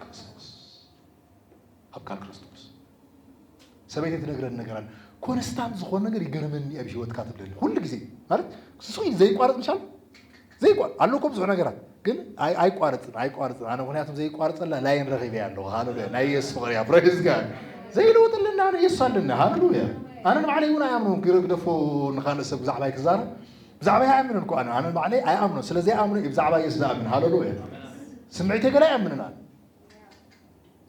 ክርስቶስ ኣብ ካል ክርስቶስ ሰበይቲ ትነግረን ነገር ኣለ ኮንስታንት ዝኾነ ነገር ይገርመኒ ኣብ ሂወትካ ትብለኒ ኩሉ ግዜ ማለት ስሱይ ዘይቋረፅ ምሻል ዘይቋር ኣሎ እኮ ብዙሕ ነገራት ግን ኣይ- ኣይቋረፅን ኣይቋረፅን ኣነ ምክንያቱም ዘይቋረፀላ ላይን ረኺበ ኣለኹ ሃለሉያ ናይ የሱስ ፍቕሪ እያ ፕሬዝ ጋድ ዘይለወጠለና ኣነ የሱስ ኣለና ሃለሉያ ኣነ ንባዕለይ እውን ኣይኣምኖን ግደፎ ንካልእ ሰብ ብዛዕባይ ክዛረብ ብዛዕባይ ኣይኣምንን እኮ ኣነ ኣነ ባዕለይ ኣይኣምኖ ስለ ዘይኣምኖ እዩ ብዛዕባ ኢየሱስ ዝኣምን ሃለሉ እየ ስምዒተይ ገለ ኣይኣምንን ኣነ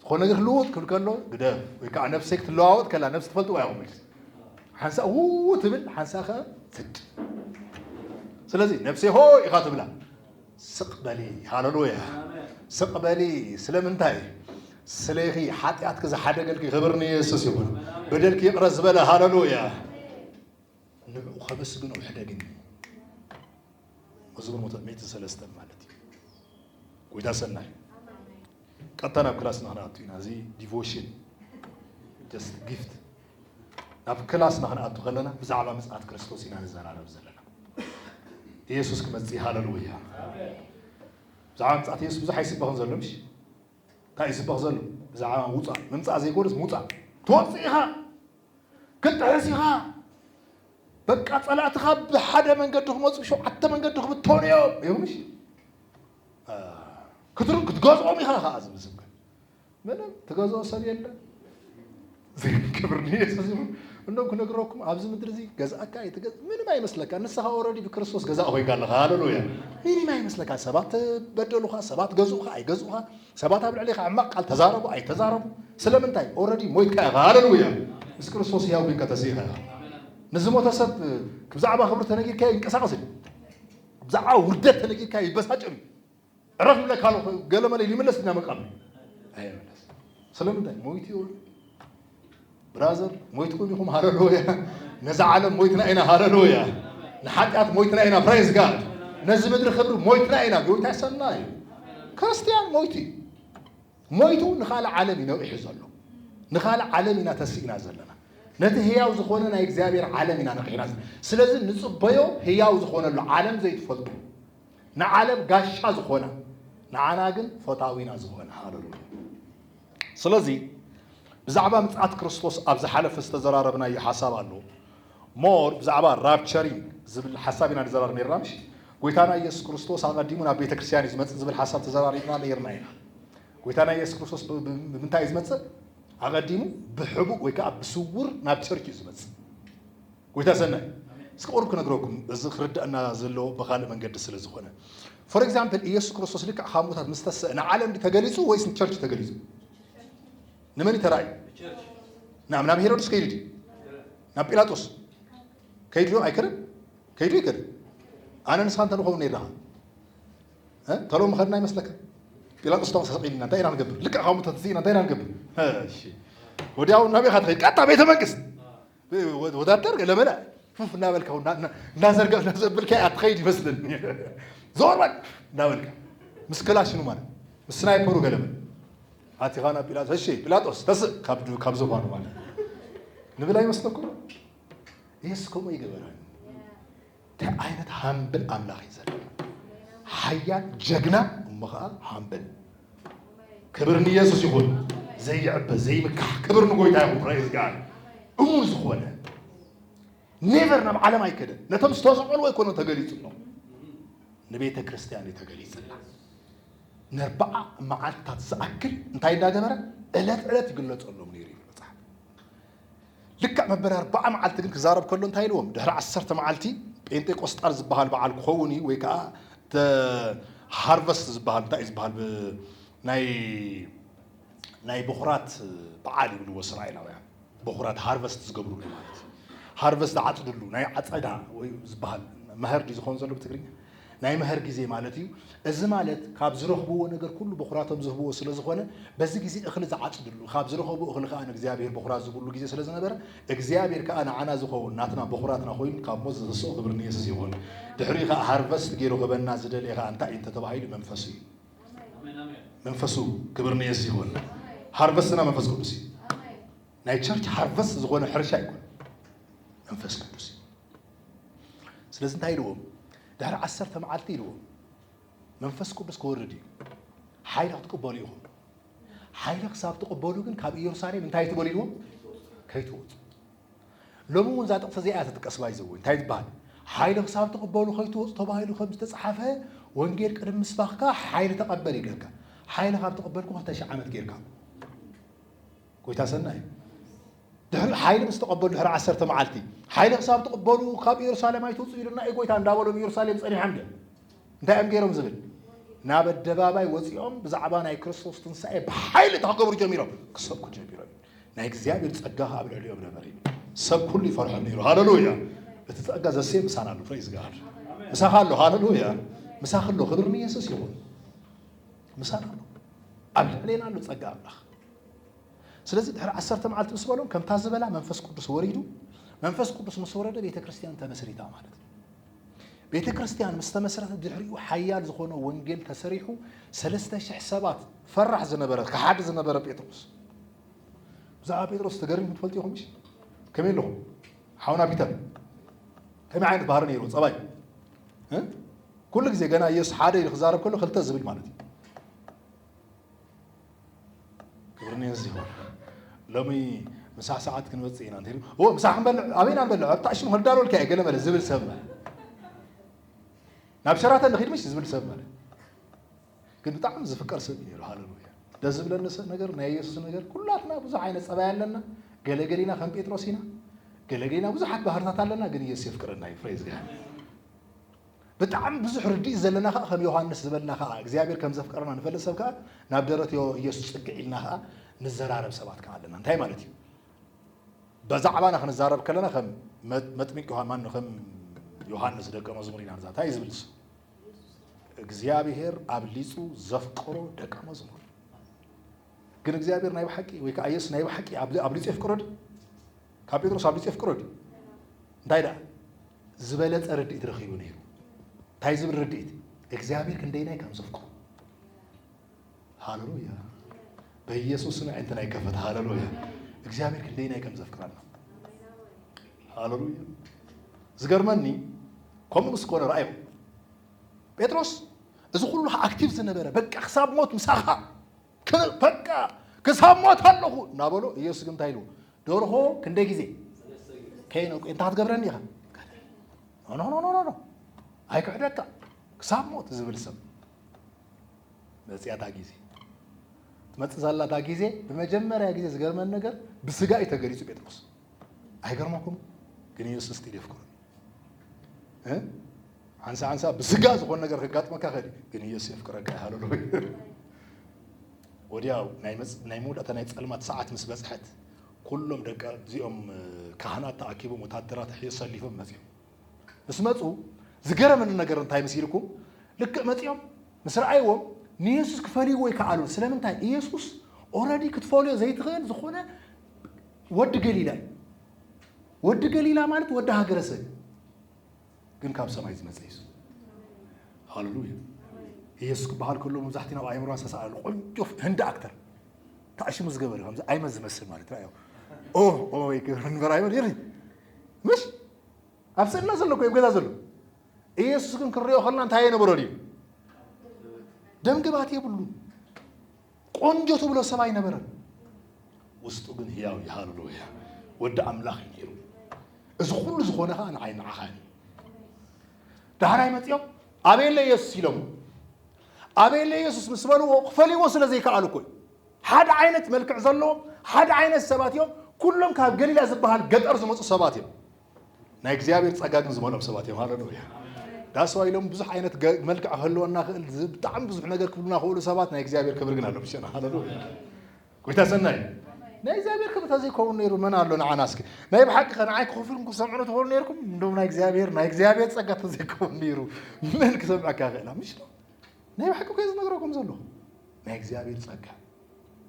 ዝኾነ ነገር ክልወጥ ክብል ከሎ ግደፍ ወይ ከዓ ነፍሰይ ክትለዋወጥ ከላ ነፍሲ ትፈልጥዋ ኢኹም ኢልሲ ሓንሳእ ው ትብል ሓንሳእ ከ ትድ ስለዚ ነፍሰይ ሆ ኢኻ ትብላ ስቕ በሊ ሃለሉያ ስቕ በሊ ስለምንታይ ስለኺ ሓጢኣትኪ ዝሓደገልኪ ክብር ንየሱስ ይኹን በደልኪ ይቕረ ዝበለ ሃለሉያ ንዕኡ ከመስግኖ ሕደግኒ መዝሙር መቶ ሚእቲ ሰለስተ ማለት እዩ ጎይታ ሰናይ ቀጥታ ናብ ክላስ ንክንኣቱ ኢና እዚ ዲቮሽን ጀስት ጊፍት ናብ ክላስ ንክንኣቱ ከለና ብዛዕባ ምፅኣት ክርስቶስ ኢና ንዘራረብ ዘለና ኢየሱስ ክመፅእ ሃለሉያ ብዛዕባ ምፅኣት ኢየሱስ ብዙሕ ኣይስበኽን ዘሎ ምሽ እንታይ ይስበኽ ዘሎ ብዛዕባ ምውፃእ ምምፃእ ዘይኮነስ ምውፃእ ትወፅእ ኢኻ ክትጥሕስ ኢኻ በቃ ጸላእትኻ ብሓደ መንገዲ ክመፁ ሸውዓተ መንገዲ ክብተኑ እዮም ይብሉሽ ክትሩ ክትገዝኦም ኢኻ ከዓ ዝብል ስብከ ምንም ትገዝኦ ሰብ የለን ክብር ንየሱስ ይኹን እንደም ክነግረኩም ኣብዚ ምድሪ እዚ ገዛእካ ይትገዝ ምንም ኣይመስለካ ንስኻ ኦረዲ ብክርስቶስ ገዛእ ኮይንካ ኣለኻ ሃለሉያ ምንም ኣይመስለካ ሰባት በደሉኻ ሰባት ገዝኡኻ ኣይገዝኡኻ ሰባት ኣብ ልዕሌኻ ሕማቕ ቃል ተዛረቡ ኣይተዛረቡ ስለምንታይ ኦረዲ ሞይትካ ኢኻ ሃለሉያ ምስ ክርስቶስ ህያው ኮይንካ ተሲኢኻ ኢኻ ንዝሞተ ሰብ ብዛዕባ ክብሪ ተነጊርካዮ ይንቀሳቐስ እዩ ብዛዕባ ውርደት ተነጊርካዮ ይበሳጭር እዩ ዕረፍ ይብለካ ኣሎ ገለመለ ይምለስ ድና መቃብር ኣይምለስ ስለምንታይ ሞይቱ ይወርድ ብራዘር ሞይትኩም ኢኹም ሃለሉያ ነዛ ዓለም ሞይትና ኢና ሃለሉያ ንሓጢኣት ሞይትና ኢና ፕሬዝ ጋድ ነዚ ምድሪ ክብሪ ሞይትና ኢና ጎይታ ሰናይ እዩ ክርስትያን ሞይቱ እዩ ሞይቱ ንካልእ ዓለም እዩ ነቂሑ ዘሎ ንካልእ ዓለም ኢና ተሲእና ዘለና ነቲ ህያው ዝኾነ ናይ እግዚኣብሔር ዓለም ኢና ነቂሕና ስለዚ ንፅበዮ ህያው ዝኾነሉ ዓለም ዘይትፈልጡ ንዓለም ጋሻ ዝኾነ ንዓና ግን ፈታዊና ዝኾነ ሃለሉ ስለዚ ብዛዕባ ምጽኣት ክርስቶስ ኣብ ዝሓለፈ ዝተዘራረብናዮ ሓሳብ ኣሎ more ብዛዕባ ራፕቸሪንግ ዝብል ሓሳብ ኢና ንዘራረብ ኔርና ምሽ ጎይታና ኢየሱስ ክርስቶስ ኣቐዲሙ ናብ ቤተ ክርስቲያን እዩ ዝመጽእ ዝብል ሓሳብ ተዘራሪብና ኔርና ኢና ጎይታና ኢየሱስ ክርስቶስ ብምንታይ እዩ ዝመጽእ ኣቐዲሙ ብሕቡእ ወይ ከዓ ብስውር ናብ ቸርች እዩ ዝመጽእ ጎይታ ሰናይ እስከ ቁሩብ ክነግረኩም እዚ ክርዳእና ዘለዎ ብካልእ መንገዲ ስለ ዝኮነ ፎር ኤግዛምፕል ኢየሱስ ክርስቶስ ልክዕ ካብ ሙታት ምስ ተሰእ ንዓለም ዲ ተገሊጹ ወይስ ንቸርች ተገሊጹ ንመን ተራእዩ ናብ ናብ ሄሮድስ ከይዱ ዲ ናብ ጲላጦስ ከይዱ ዶ ኣይከደን ከይዱ ኣይከደን ኣነ ንስኻ እንተ ንኸውን ነርና ተሎ ምኸድና ይመስለካ ጲላጦስ ታ ሰቂልና እንታይ ኢና ንገብር ልክዕ ካብ ሙታት ስኢና እንታይ ኢና ንገብር ወዲያው ናበይ ኢኻ ትኸይድ ቀጥታ ቤተ መንግስት ወዳደር ገለመለ ፉፍ እናበልካ እናዘርገፍ ዘብልካ ኣትኸይድ ይመስለኒ ዞር በል እናበልካ ምስ ክላሽኑ ማለት ምስ ስናይፐሩ ገለመለ ኣቲኻ ናብ ጲላጦስ እሺ ጲላጦስ ተስእ ካብ ዝኳኑ ማለት ንብል ኣይመስለኩም ኢየሱስ ከምኡ ይገበራል እንታይ ዓይነት ሃምብል ኣምላኽ እዩ ዘለና ሓያል ጀግና እሞ ከዓ ሃምብል ክብር ንኢየሱስ ይኹን ዘይዕበ ዘይምካሕ ክብር ንጎይታ ይኹን ፕሬዝ ጋድ እሙን ዝኾነ ኔቨር ናብ ዓለም ኣይከደን ነቶም ዝተሰቆልዎ ኣይኮነ ተገሊጹሎም ንቤተ ክርስቲያን እዩ ተገሊጽላ ነርባዓ መዓልትታት ዝኣክል እንታይ እንዳገበረ ዕለት ዕለት ይግለጸሎም ነይሩ እዩ መጽሓፍ ልክዕ መበል ኣርብዓ መዓልቲ ግን ክዛረብ ከሎ እንታይ ኢልዎም ድሕሪ ዓሰርተ መዓልቲ ጴንጤ ቆስጣል ዝበሃል በዓል ክኸውን እዩ ወይ ከዓ the harvest ዝበሃል እንታይ እዩ ዝበሃል ብ ናይ ናይ በኹራት በዓል ይብልዎ እስራኤላውያን በኹራት ሃርቨስት ዝገብርሉ ማለት እዩ ሃርቨስት ዝዓፅድሉ ናይ ዓፀዳ ወይ ዝበሃል መኸር ድዩ ዝኸውን ዘሎ ብትግርኛ ናይ መሀር ጊዜ ማለት እዩ። እዚ ማለት ካብ ዝረኽብዎ ነገር ኩሉ በኹራቶም ዝህብዎ ስለ ዝኾነ በዚ ጊዜ እኽሊ ዝዓጽድሉ ካብ ዝረኸቡ እኽሊ ከኣ ንእግዚኣብሔር በኹራት ዝህብሉ ጊዜ ስለ ዝነበረ እግዚኣብሔር ከኣ ንዓና ዝኸውን ናትና በኹራትና ኮይኑ ካብ ሞት ዘተስኦ ክብሪ ንየሱስ ይኹን ድሕሪኡ ከኣ ሃርቨስት ገይሩ ክበና ዝደለየ ከኣ እንታይ እዩ እንተተባሂሉ መንፈሱ እዩ መንፈሱ ክብሪ ንየሱስ ይኹን ሃርቨስትና መንፈስ ቅዱስ እዩ ናይ ቸርች ሃርቨስት ዝኾነ ሕርሻ ይኮን መንፈስ ቅዱስ እዩ ስለዚ እንታይ ኢልዎም ድሕሪ ዓሰርተ መዓልቲ ኢልዎም መንፈስ ቅዱስ ክወርድ እዩ ሓይሊ ክትቅበሉ ኢኹም ሓይሊ ክሳብ ትቕበሉ ግን ካብ ኢየሩሳሌም እንታይ ትበሉ ኢልዎም ከይትወፁ ሎሚ እውን እዛ ጥቕሲ እዚኣ ተጥቀስባ እዩ ዘወ እንታይ ዝበሃል ሓይሊ ክሳብ ትቕበሉ ከይትወፁ ተባሂሉ ከም ዝተፅሓፈ ወንጌል ቅድሚ ምስባኽካ ሓይሊ ተቐበል ይብለካ ሓይሊ ካብ ተቐበልኩ ክልተ ሽሕ ዓመት ጌርካ ጎይታ ሰናይ ድሕሪ ሓይሊ ምስ ተቐበሉ ድሕሪ ዓሰርተ መዓልቲ ሓይሊ ክሳብ ትቕበሉ ካብ ኢየሩሳሌም ኣይትውፅኡ ኢሉና እዩ ጎይታ እንዳበሎም ኢየሩሳሌም ጸኒሖም ድዮም እንታይ እዮም ገይሮም ዝብል ናብ ኣደባባይ ወፂኦም ብዛዕባ ናይ ክርስቶስ ትንሳኤ ብሓይሊ እቲ ክገብሩ ጀሚሮም ክሰብኩ ጀሚሮም ናይ እግዚኣብሔር ፀጋ ከዓ ኣብ ልዕሊኦም ነበር እዩ ሰብ ኩሉ ይፈርሖም ነይሩ ሃለሉያ እቲ ፀጋ ዘሴ ምሳና ኣሎ ፕሬዝ ጋድ ምሳኻ ኣሎ ሃለሉያ ምሳኽ ኣሎ ክብር ንየሱስ ይኹን ምሳና ኣሎ ኣብ ልዕሌና ኣሎ ፀጋ ኣምላኽ ስለዚ ድሕሪ ዓሰርተ መዓልቲ ምስ በሎም ከምታ ዝበላ መንፈስ ቅዱስ ወሪዱ፣ መንፈስ ቅዱስ ምስ ወረደ ቤተ ክርስቲያን ተመስሪታ ማለት እዩ። ቤተ ክርስቲያን ምስ ተመስረተ ድሕሪኡ ሓያል ዝኾነ ወንጌል ተሰሪሑ ሰለስተ ሽሕ ሰባት ፈራሕ ዝነበረ ከሓዲ ዝነበረ ጴጥሮስ ብዛዕባ ጴጥሮስ ተገሪሙ ትፈልጡ ኢኹም እሺ ከመይ ኣለኹም ሓውና ፒተር ከመይ ዓይነት ባህሪ ነይሩ ፀባይ ኩሉ ግዜ ገና ኢየሱስ ሓደ ኢሉ ክዛረብ ከሎ ክልተ ዝብል ማለት እዩ ክብርንዮ ዝሆን ሎሚ ምሳ ሰዓት ክንወፅእ ኢና እንተይሉ ኦ ምሳ ክንበልዕ ኣበይና ንበልዕ ኣብ ጣዕሽም ክዳሎልካ እየ ገለ መለ ዝብል ሰብ ማለት ናብ ሸራተን ንኺድ ምሽ ዝብል ሰብ ማለት ግን ብጣዕሚ ዝፍቀር ሰብ እዩ ነይሩ ሃለሉያ ደስ ዝብለኒ ነገር ናይ የሱስ ነገር ኩላትና ብዙሕ ዓይነት ፀባይ ኣለና ገለገሊና ከም ጴጥሮስ ኢና ገለገሊና ብዙሓት ባህርታት ኣለና ግን ኢየሱስ የፍቅረና እዩ ፍሬዝ ብጣዕሚ ብዙሕ ርድኢት ዘለና ከኣ ከም ዮሃንስ ዝበልና ከኣ እግዚኣብሔር ከም ዘፍቀረና ንፈልጥ ሰብ ከኣ ናብ ደረት ኢየሱስ ጽግዕ ኢልና ከኣ ንዘራረብ ሰባት ከኣ ኣለና እንታይ ማለት እዩ በዛዕባና ክንዛረብ ከለና ከም መጥምቅ ዮሃን ማን ከም ዮሃንስ ደቀ መዝሙር ኢና ንዛ እንታይ ዝብል ንሱ እግዚኣብሔር ኣብሊጹ ዘፍቀሮ ደቀ መዝሙር ግን እግዚኣብሔር ናይ ብሓቂ ወይ ከኣ ኢየሱስ ናይ ብሓቂ ኣብሊጹ የፍቅሮ ድዩ ካብ ጴጥሮስ ኣብሊጹ የፍቅሮ ድዩ? እንታይ ደኣ ዝበለጸ ርድኢት ረኺቡ ነይሩ። እንታይ ዝብል ርድኢት? እግዚኣብሔር ክንደይናይ ከም ዘፍቅሮ። ሃለሉያ! በኢየሱስ ስም ኣዒንትና ይከፈት። ሃለሉያ! እግዚኣብሔር ክንደይናይ ከም ዘፍቅረና። ሃለሉያ! ዝገርመኒ ከምኡ ምስ ኮነ ረኣዮ ጴጥሮስ እዚ ኩሉ ኣክቲቭ ዝነበረ በቃ ክሳብ ሞት ምሳኻ በቃ ክሳብ ሞት ኣለኹ እናበሎ ኢየሱስ ግን እንታይ ኢሉ ደርሆ ክንደይ ግዜ ከይነቁ እንታይ ክትገብረኒ ኢኻ ኖኖኖኖኖ ኣይክሕደካ ክሳብ ሞት ዝብል ሰብ መፅያታ ግዜ ትመፅእ ዘላታ ግዜ ብመጀመርያ ግዜ ዝገርመን ነገር ብስጋ እዩ ተገሊፁ ጴጥሮስ ኣይገርመኩም ግን ኢየሱስ ግን የፍቅረኒ እ ሓንሳ ሓንሳ ብስጋ ዝኾነ ነገር ከጋጥመካ ከዲ ግን ኢየሱስ የፍቅረካ ይሃለሉ ወዲያው ናይ መጽ- ናይ መውዳእታ ናይ ጸልማት ሰዓት ምስ በጽሐት ኩሎም ደቂ እዚኦም እ፣ ካህናት ተኣኪቦም ወታደራት ሕዮ ሰሊፎም መጽኦም ምስ መፁ ዝገረመኒ ነገር እንታይ መሲልኩም ልክዕ መፂኦም ምስ ረኣይዎም ንየሱስ ክፈልይዎ ይከኣሉ ስለምንታይ ኢየሱስ ኦረዲ ክትፈልዮ ዘይትኽእል ዝኾነ ወዲ ገሊላ እዩ። ወዲ ገሊላ ማለት ወዲ ሃገረሰብ እዩ፣ ግን ካብ ሰማይ ዝመፀ እዩ። ሃለሉያ ኢየሱስ ክበሃል ከሎ መብዛሕትኡ ናብ ኣእምሮና ዝተሰኣለ ቆንጆ ህንዲ ኣክተር ተኣሽሙ ዝገበረ ከምዚ ኣይመን ዝመስል ማለት ዩ ኦ ኦ ይገብር ንበር ኣይመን ይርኢ ምሽ ኣብ ስእልና ዘሎ እኮ ኣብ ገዛ ዘሎ ኢየሱስ ግን ክንሪኦ ከለና እንታይ የነበሮ ድዩ ደምግባት የብሉ ቆንጆ ትብሎ ሰብ ኣይነበረን፣ ውስጡ ግን ህያው እዩ። ሃሌሉያ! ወዲ ኣምላኽ እዩ ነይሩ። እዚ ኩሉ ዝኾነ ከዓ ንዓይ ንዓኻ እዩ። ዳሕራይ መፂኦም ኣበየለ ኢየሱስ ኢሎሞ ኣበየለ ኢየሱስ ምስ በልዎ ክፈልይዎ ስለ ዘይከኣሉ እኮ እዩ። ሓደ ዓይነት መልክዕ ዘለዎም ሓደ ዓይነት ሰባት እዮም። ኩሎም ካብ ገሊላ ዝበሃል ገጠር ዝመፁ ሰባት እዮም። ናይ እግዚኣብሔር ጸጋ ግን ዝመልኦም ሰባት እዮም ሃለሉያ ዳስዋ ኢሎም ብዙሕ ዓይነት መልክዕ ክህልወና ክእል ብጣዕሚ ብዙሕ ነገር ክብሉና ክእሉ ሰባት ናይ እግዚኣብሔር ክብሪ ግን ኣሎ ምስና ሃለሉያ ጎይታ ሰናይ ናይ እግዚኣብሔር ክብሪ ተዘይከውን ነይሩ መን ኣሎ ንዓና እስኪ ናይ ብሓቂ ከ ንዓይ ክኸፍልኩም ክሰምዑ ትኸሉ ነርኩም እንዶም ናይ እግዚኣብሔር ናይ እግዚኣብሔር ጸጋ ተዘይከውን ነይሩ መን ክሰምዐካ ክእላ ምሽ ናይ ብሓቂ ኮ ዝነግረኩም ዘሎ ናይ እግዚኣብሔር ጸጋ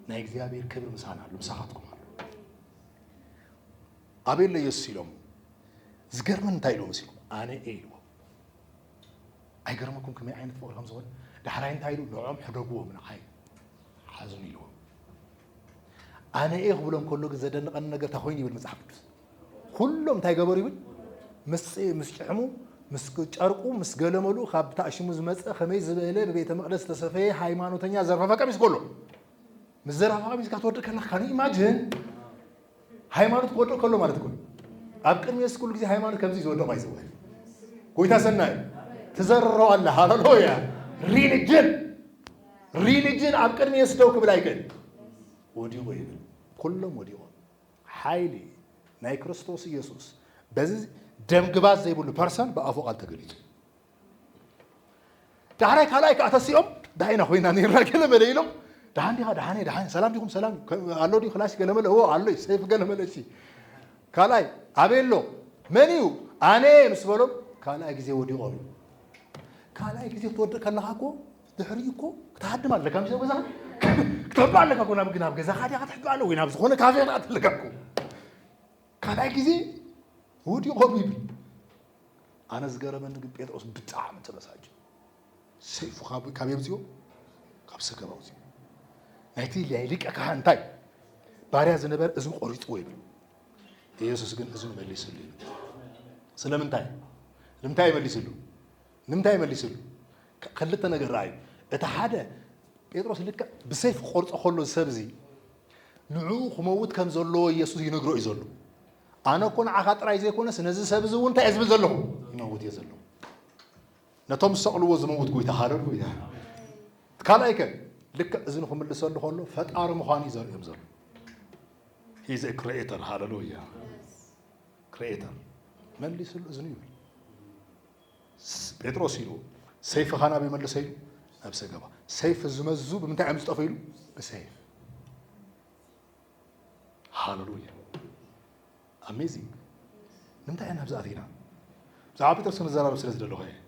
ናይ እግዚኣብሔር ክብሪ ምሳና ኣሎ ምሳኻትኩም ኣሎ ኣበሎ የሱስ ኢሎምዎ። ዝገርመኒ እንታይ ኢልዎ መሲልኩም? ኣነ እየ ኢልዎ። ኣይገርመኩም ከመይ ዓይነት ፍቕሪ ከም ዝኾነ? ዳሕራይ እንታይ ኢሉ? ንዕኦም ሕደግዎም ንዓይ ሓዙኒ ኢልዎ። ኣነ እየ ክብሎም ከሎ ግን ዘደንቐኒ ነገር እንታይ ኮይኑ ይብል መጽሓፍ ቅዱስ? ኩሎም እንታይ ገበሩ ይብል? ምስ ጭሕሙ ምስ ጨርቁ ምስ ገለመሉ ካብ ታእሽሙ ዝመፀ ከመይ ዝበለ ብቤተ መቅደስ ዝተሰፈየ ሃይማኖተኛ ዘርፋፋ ቀሚስ ጎሎ ምስ ዘርፋፋ ቀሚስካ ትወድእ ከለካ ካን ኢማጅን ሃይማኖት ክወድቕ ከሎ ማለት እኮ ኣብ ቅድሚ የሱስ ኩሉ ግዜ ሃይማኖት ከምዚ ዝወደቑ ኣይዘወን ጎይታ ሰናይ ትዘርሮ ኣለ ሃለሉያ ሪሊጅን ሪሊጅን ኣብ ቅድሚ የሱስ ደው ክብል ኣይክእል ወዲቑ ይብል ኩሎም ወዲቑ ሓይሊ ናይ ክርስቶስ ኢየሱስ በዚ ደምግባት ዘይብሉ ፐርሰን ብኣፉ ቃል ተገሊጹ ዳሕራይ ካልኣይ ከዓ ተሲኦም ዳይና ኮይና ነይራ ገለመለ ኢሎም ደሓን ዲኻ ደሓን ደሓን ሰላም ዲኹም ሰላም ኣሎ ዲ ክላሲ ገለመለ እዎ ኣሎይ ሰይፍ ገለመለ ሲ ካልኣይ ኣበይ ኣሎ መን እዩ ኣነ ምስ በሎም ካልኣይ ግዜ ወዲቖም እዩ ካልኣይ ግዜ ክትወድቕ ከለኻ እኮ ድሕሪ እኮ ክትሃድም ኣለካ ምስ ገዛ ክትሕባ ኣለካ እኮ ናብ ናብ ገዛኻ ዲኻ ክትሕባ ኣለ ወይ ናብ ዝኾነ ካፌ ክትኣት ኣለካ እኮ ካልኣይ ግዜ ወዲቆም ይብል ኣነ ዝገረመኒ ግን ጴጥሮስ ብጣዕሚ ተበሳጭ ሰይፉ ካብ ካብ የምፅኦ ካብ ሰገባ ኣውፅኦ ናይቲ ናይ ሊቀ ካህን እንታይ ባርያ ዝነበረ እዝኑ ቆሪፅዎ ይብል ኢየሱስ ግን እዝኑ መሊስሉ ይብል ስለምንታይ ንምንታይ ይመሊስሉ ንምንታይ ይመሊስሉ ከ- ክልተ ነገር ረኣዩ እቲ ሓደ ጴጥሮስ ልክዕ ብሰይፍ ክቆርፆ ከሎ እዚ ሰብ እዚ ንዕኡ ክመውት ከም ዘለዎ ኢየሱስ ይነግሮ እዩ ዘሎ። ኣነ እኮ ንዓኻ ጥራይ ዘይኮነስ ነዚ ሰብ እዚ እውን እንታይ እየ ዝብል ዘለኹ ይመውት እየ ዘለኹ። ነቶም ዝሰቕልዎ ዝመውት ጎይታ ሃለሉያ። ካልኣይ ከ ልክዕ እዚ ንክምልሰሉ ከሎ ፈጣሪ ምዃኑ እዩ ዘርእዮም ዘሎ ሂዘ ክሬኤተር ሃለሉያ ክሬኤተር መሊስሉ እዝኑ ይብል ጴጥሮስ ኢሉ ሰይፊ ኻን ኣበይ መልሰ ኢሉ ኣብ ሰገባ ሰይፍ ዝመዙ ብምንታይ እዮም ዝጠፉ ኢሉ ብሰይፍ ሃለሉያ ኣሜዚንግ ምንታይ ኢና ብዛኣት ኢና ብዛዕባ ጴጥሮስ ክንዘራረብ ስለ ዝደለኹ እየ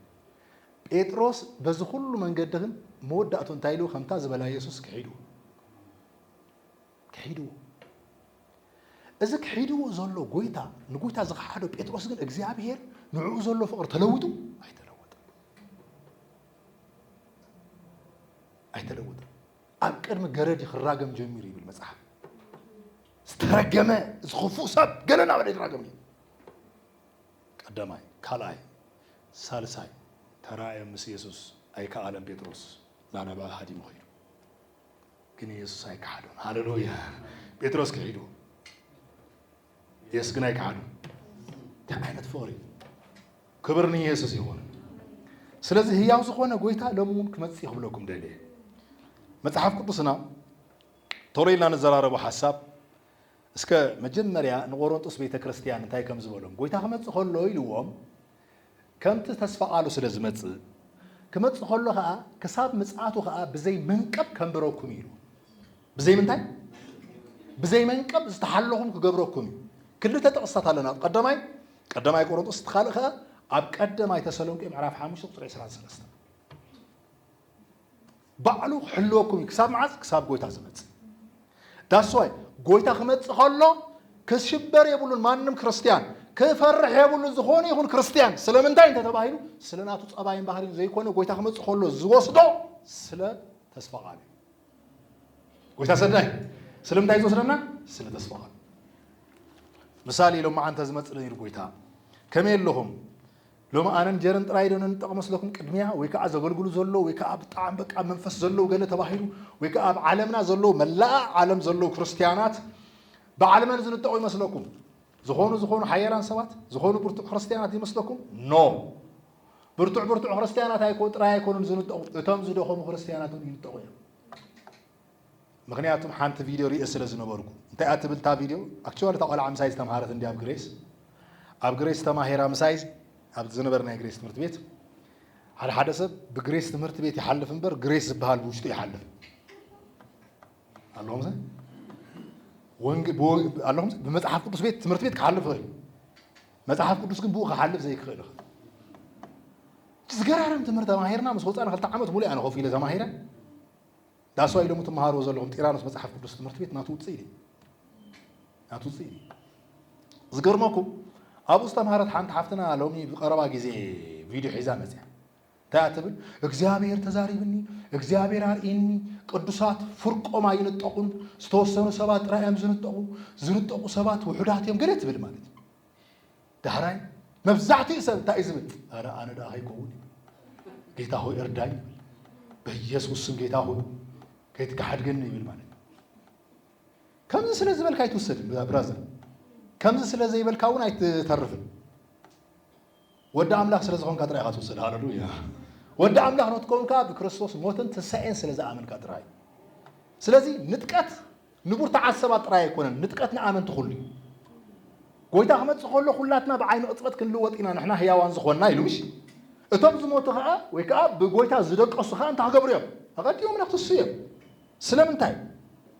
ጴጥሮስ በዚ ኩሉ መንገዲ ግን መወዳእቱ እንታይ ኢሉ ከምታ ዝበላ የሱስ ክሒድዎ ክሒድዎ እዚ ክሒድዎ ዘሎ ጎይታ ንጎይታ ዝኸሓዶ ጴጥሮስ ግን እግዚኣብሔር ንዕኡ ዘሎ ፍቕሪ ተለውጡ ኣይተለወጠን ኣይተለወጠን ኣብ ቅድሚ ገረድ ክራገም ጀሚሩ ይብል መጽሓፍ ዝተረገመ እዚ ክፉእ ሰብ ገለ ናበለ ይራገም እዩ ቀዳማይ ካልኣይ ሳልሳይ ተራእየ ምስ ኢየሱስ ኣይከኣለን ጴጥሮስ ናናባል ሃዲሙ ኸይዱ ግን ኢየሱስ ኣይከሓዶን። ሃሌሉያ! ጴጥሮስ ክሒዱ ኢየሱስ ግን ኣይከሓዱ። እንታይ ዓይነት ፍቕሪ! ክብር ንኢየሱስ ይኹን። ስለዚ ህያው ዝኾነ ጎይታ ሎሚ እውን ክመፅእ ክብለኩም ደልየ መጽሓፍ ቅዱስና ቶሎ ኢልና ንዘራረቦ ሓሳብ እስከ መጀመርያ ንቆሮንጦስ ቤተ ክርስቲያን እንታይ ከም ዝበሎም ጎይታ ክመፅእ ከሎ ኢልዎም ከምቲ ተስፋቃሉ ስለ ዝመጽእ፣ ክመጽእ ከሎ ከኣ ክሳብ ምጽኣቱ ከኣ ብዘይ መንቀብ ከንብረኩም እዩ ኢሉ። ብዘይ ምንታይ? ብዘይ መንቀብ ዝተሓለኹም ክገብረኩም እዩ። ክልተ ጥቕስታት ኣለና። ኣብ ቀዳማይ ቀዳማይ ቆሮንጦስ እቲ ካልእ ከኣ ኣብ ቀዳማይ ተሰሎንቄ ምዕራፍ ሓሙሽተ ቁጽሪ ዕስራን ሰለስተን። ባዕሉ ክሕልወኩም እዩ ክሳብ መዓስ ክሳብ ጎይታ ዝመጽእ ዳስዋይ ጎይታ ክመጽእ ከሎ ክሽበር የብሉን ማንም ክርስትያን ክፈርሕ የብሉን ዝኾነ ይኹን ክርስትያን ስለምንታይ እንተተባሂሉ ስለ ናቱ ጸባይን ባህሪን ዘይኮነ ጎይታ ክመጽእ ከሎ ዝወስዶ ስለ ተስፋ ቃሉ እዩ ጎይታ ሰናይ ስለምንታይ ዝወስደና ስለ ተስፋ ቃሉ ምሳሌ ኢሎም መዓንተ ዝመጽእ ነይሩ ጎይታ ከመይ ኣለኹም ሎሚ ኣነን ጀርን ጥራይ ዶ ንንጠቕ መስለኩም ቅድሚያ ወይ ከኣ ዘገልግሉ ዘለዉ ወይ ከኣ ብጣዕሚ በቃ ኣብ መንፈስ ዘለዉ ገለ ተባሂሉ ወይ ከኣ ኣብ ዓለምና ዘለዉ መላኣ ዓለም ዘለዉ ክርስትያናት በዓል መን ዝንጠቑ ይመስለኩም ዝኾኑ ዝኾኑ ሓያላን ሰባት ዝኾኑ ብርቱዕ ክርስትያናት ይመስለኩም ኖ ብርቱዕ ብርቱዕ ክርስትያናት ኣይኮ ጥራይ ኣይኮኑን ዝንጠቑ እቶም ዝደኸሙ ክርስትያናት ይንጠቑ እዮም ምክንያቱም ሓንቲ ቪድዮ ሪኤ ስለ ዝነበርኩ። እንታይ እያ ትብል እታ ቪድዮ? ኣክችዋሊ እታ ቆልዓ ምሳይ ዝተምሃረት እንድያ ኣብ ግሬስ። ኣብ ግሬስ ተማሂራ ምሳይ ኣብ ዝነበርናዮ ግሬስ ትምህርቲ ቤት። ሓደ ሓደ ሰብ ብግሬስ ትምህርቲ ቤት ይሓልፍ እምበር ግሬስ ዝበሃል ብውሽጡ ይሓልፍ ኣለኹም ኣለኹም ብመፅሓፍ ቅዱስ ቤት ትምህርቲ ቤት ክሓልፍ ይኽእል መፅሓፍ ቅዱስ ግን ብኡ ክሓልፍ ዘይክኽእል ይኽእል ዝገራርም ትምህርቲ ተማሂርና ምስ ወፃና ክልተ ዓመት ሙሉእ ኣነ ኮፍ ኢለ ተማሂረ That's why ሎሚ ትመሃርዎ ዘለኹም ጢራኖስ መጽሓፍ ቅዱስ ትምህርቲ ቤት ናቱ ውጽኢት እዩ። ናቱ ውጽኢት እዩ። ዝገርመኩም ኣብኡ ዝተምሃረት ሓንቲ ሓፍትና ሎሚ ብቀረባ ግዜ ቪድዮ ሒዛ መፅያ እንታይ ትብል እግዚኣብሔር ተዛሪብኒ እግዚኣብሔር ኣርእኒ ቅዱሳት ፍርቆም ኣይንጠቑን ዝተወሰኑ ሰባት ጥራይ እዮም ዝንጠቑ ዝንጠቑ ሰባት ውሑዳት እዮም ገለ ትብል ማለት እዩ ዳሕራይ መብዛሕትኡ ሰብ እንታይ እዩ ዝብል? ኣረ ኣነ ደኣ ከይከውን ይብል። ጌታ ሆይ እርዳኝ ይብል። በኢየሱስ ስም ጌታ ሆይ ከይትከሓድገኒ ይብል ማለት እዩ። ከምዚ ስለ ዝበልካ ኣይትውሰድን ብራዘር፣ ከምዚ ስለ ዘይበልካ እውን ኣይትተርፍን። ወዲ ኣምላኽ ስለ ዝኾንካ ጥራይ ኢኻ ትውሰድ። ሃለሉያ! ወዲ ኣምላኽ ንትከውን ከዓ ብክርስቶስ ሞትን ትንሳኤን ስለ ዝኣመንካ ጥራይ። ስለዚ ንጥቀት ንብርቱዓት ሰባት ጥራይ ኣይኮነን፣ ንጥቀት ንኣመንቲ ኩሉ እዩ። ጎይታ ክመጽእ ከሎ ኩላትና ብዓይኒ ቅጽበት ክንልወጥ ኢና ንሕና ህያዋን ዝኾንና ኢሉ ምሽ? እቶም ዝሞቱ ከኣ ወይ ከኣ ብጎይታ ዝደቀሱ ከኣ እንታይ ክገብሩ እዮም? ኣቐዲሞም ነክትሱ እዮም። ስለምንታይ?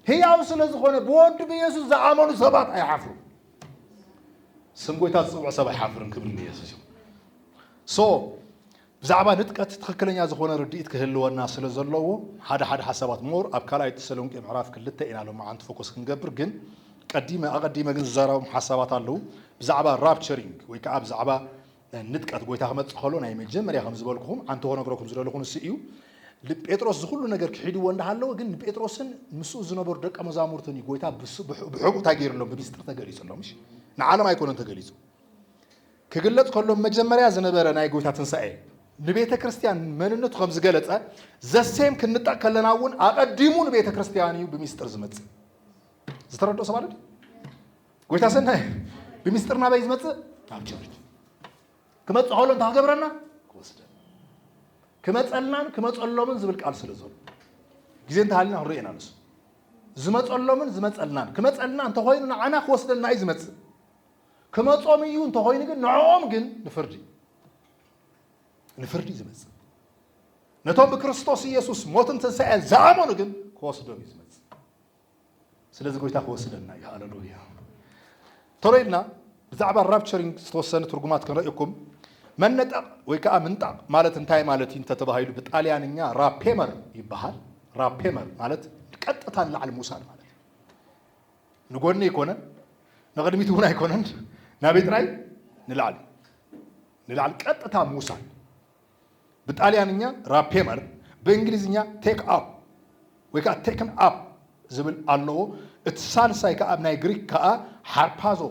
ህያው ስለ ዝኾነ ብወዱ ብየሱስ ዝኣመኑ ሰባት ኣይሓፍሩን። ስም ጎይታ ዝጽውዕ ሰብ ኣይሓፍርን ክብሪ ንየሱስ ይኹን። ሶ ብዛዕባ ንጥቀት ትኽክለኛ ዝኾነ ርድኢት ክህልወና ስለ ዘለዎ ሓደ ሓደ ሓሳባት more ኣብ ካልኣይ ተሰሎንቄ ምዕራፍ ክልተ ኢና ሎምዓንቲ ፎኮስ ክንገብር ግን ቀዲመ ኣቐዲመ ግን ዝዛረቦም ሓሳባት ኣለዉ ብዛዕባ ራፕቸሪንግ ወይ ከኣ ብዛዕባ ንጥቀት ጎይታ ክመጽእ ከሎ ናይ መጀመርያ ከም ዝበልኩኹም ዓንቲ ክነግረኩም ዝደለኹ ንሱ እዩ ጴጥሮስ ዝኹሉ ነገር ክሒድዎ እንዳሃለወ ግን ንጴጥሮስን ምስኡ ዝነበሩ ደቀ መዛሙርትን እዩ ጎይታ ብሕቡእ እንታይ ገይርሎም ብምስጢር ተገሊጹሎም እሺ ንዓለም ኣይኮነን ተገሊጹ ክግለጽ ከሎ መጀመርያ ዝነበረ ናይ ጎይታ ትንሳኤ ንቤተ ክርስትያን መንነቱ ከም ዝገለጸ ዘሴም ክንጠቕ ከለና እውን ኣቐዲሙ ንቤተ ክርስትያን እዩ ብሚስጥር ዝመጽእ ዝተረድኦ ሰብ ኣለ ጎይታ ሰናይ ብሚስጥር ናበይ ዝመጽእ ናብ ቸርች ክመጽእ ከሎ እንታይ ክገብረና ክወስደን ክመጸልናን ክመጸሎምን ዝብል ቃል ስለ ዘሎ ግዜ እንተሃልና ክንሪኦ ኢና ንሱ ዝመጸሎምን ዝመጸልናን ክመጸልና እንተኮይኑ ንዓና ክወስደልና እዩ ዝመጽእ ክመጾም ኢዩ እንተኮይኑ ግን ንዕኦም ግን ንፍርዲ ንፍርዲ ዝመጽእ ነቶም ብክርስቶስ ኢየሱስ ሞትን ትንሳኤን ዝኣመኑ ግን ክወስዶም ኢዩ ዝመጽእ ስለዚ ጎይታ ክወስደና ኢዩ ሃለሉያ ቶሎ ኢልና ብዛዕባ ራፕቸሪንግ ዝተወሰነ ትርጉማት ክንርእኩም መነጠቕ ወይ ከዓ ምንጣቕ ማለት እንታይ ማለት እዩ እንተተባሂሉ ብጣልያንኛ ራፔመር ይበሃል ራፔመር ማለት ቀጥታ ንላዕሊ ምውሳድ ማለት እዩ ንጎኒ ኣይኮነን ንቅድሚት እውን ኣይኮነን ናበይ ጥራይ ንላዕሊ ንላዕሊ ቀጥታ ምውሳድ ብጣልያንኛ ራፔመር ብእንግሊዝኛ ቴክ ኣፕ ወይ ከዓ ቴክን ኣፕ ዝብል ኣለዎ እቲ ሳልሳይ ከዓ ኣብ ናይ ግሪክ ከዓ ሓርፓዞ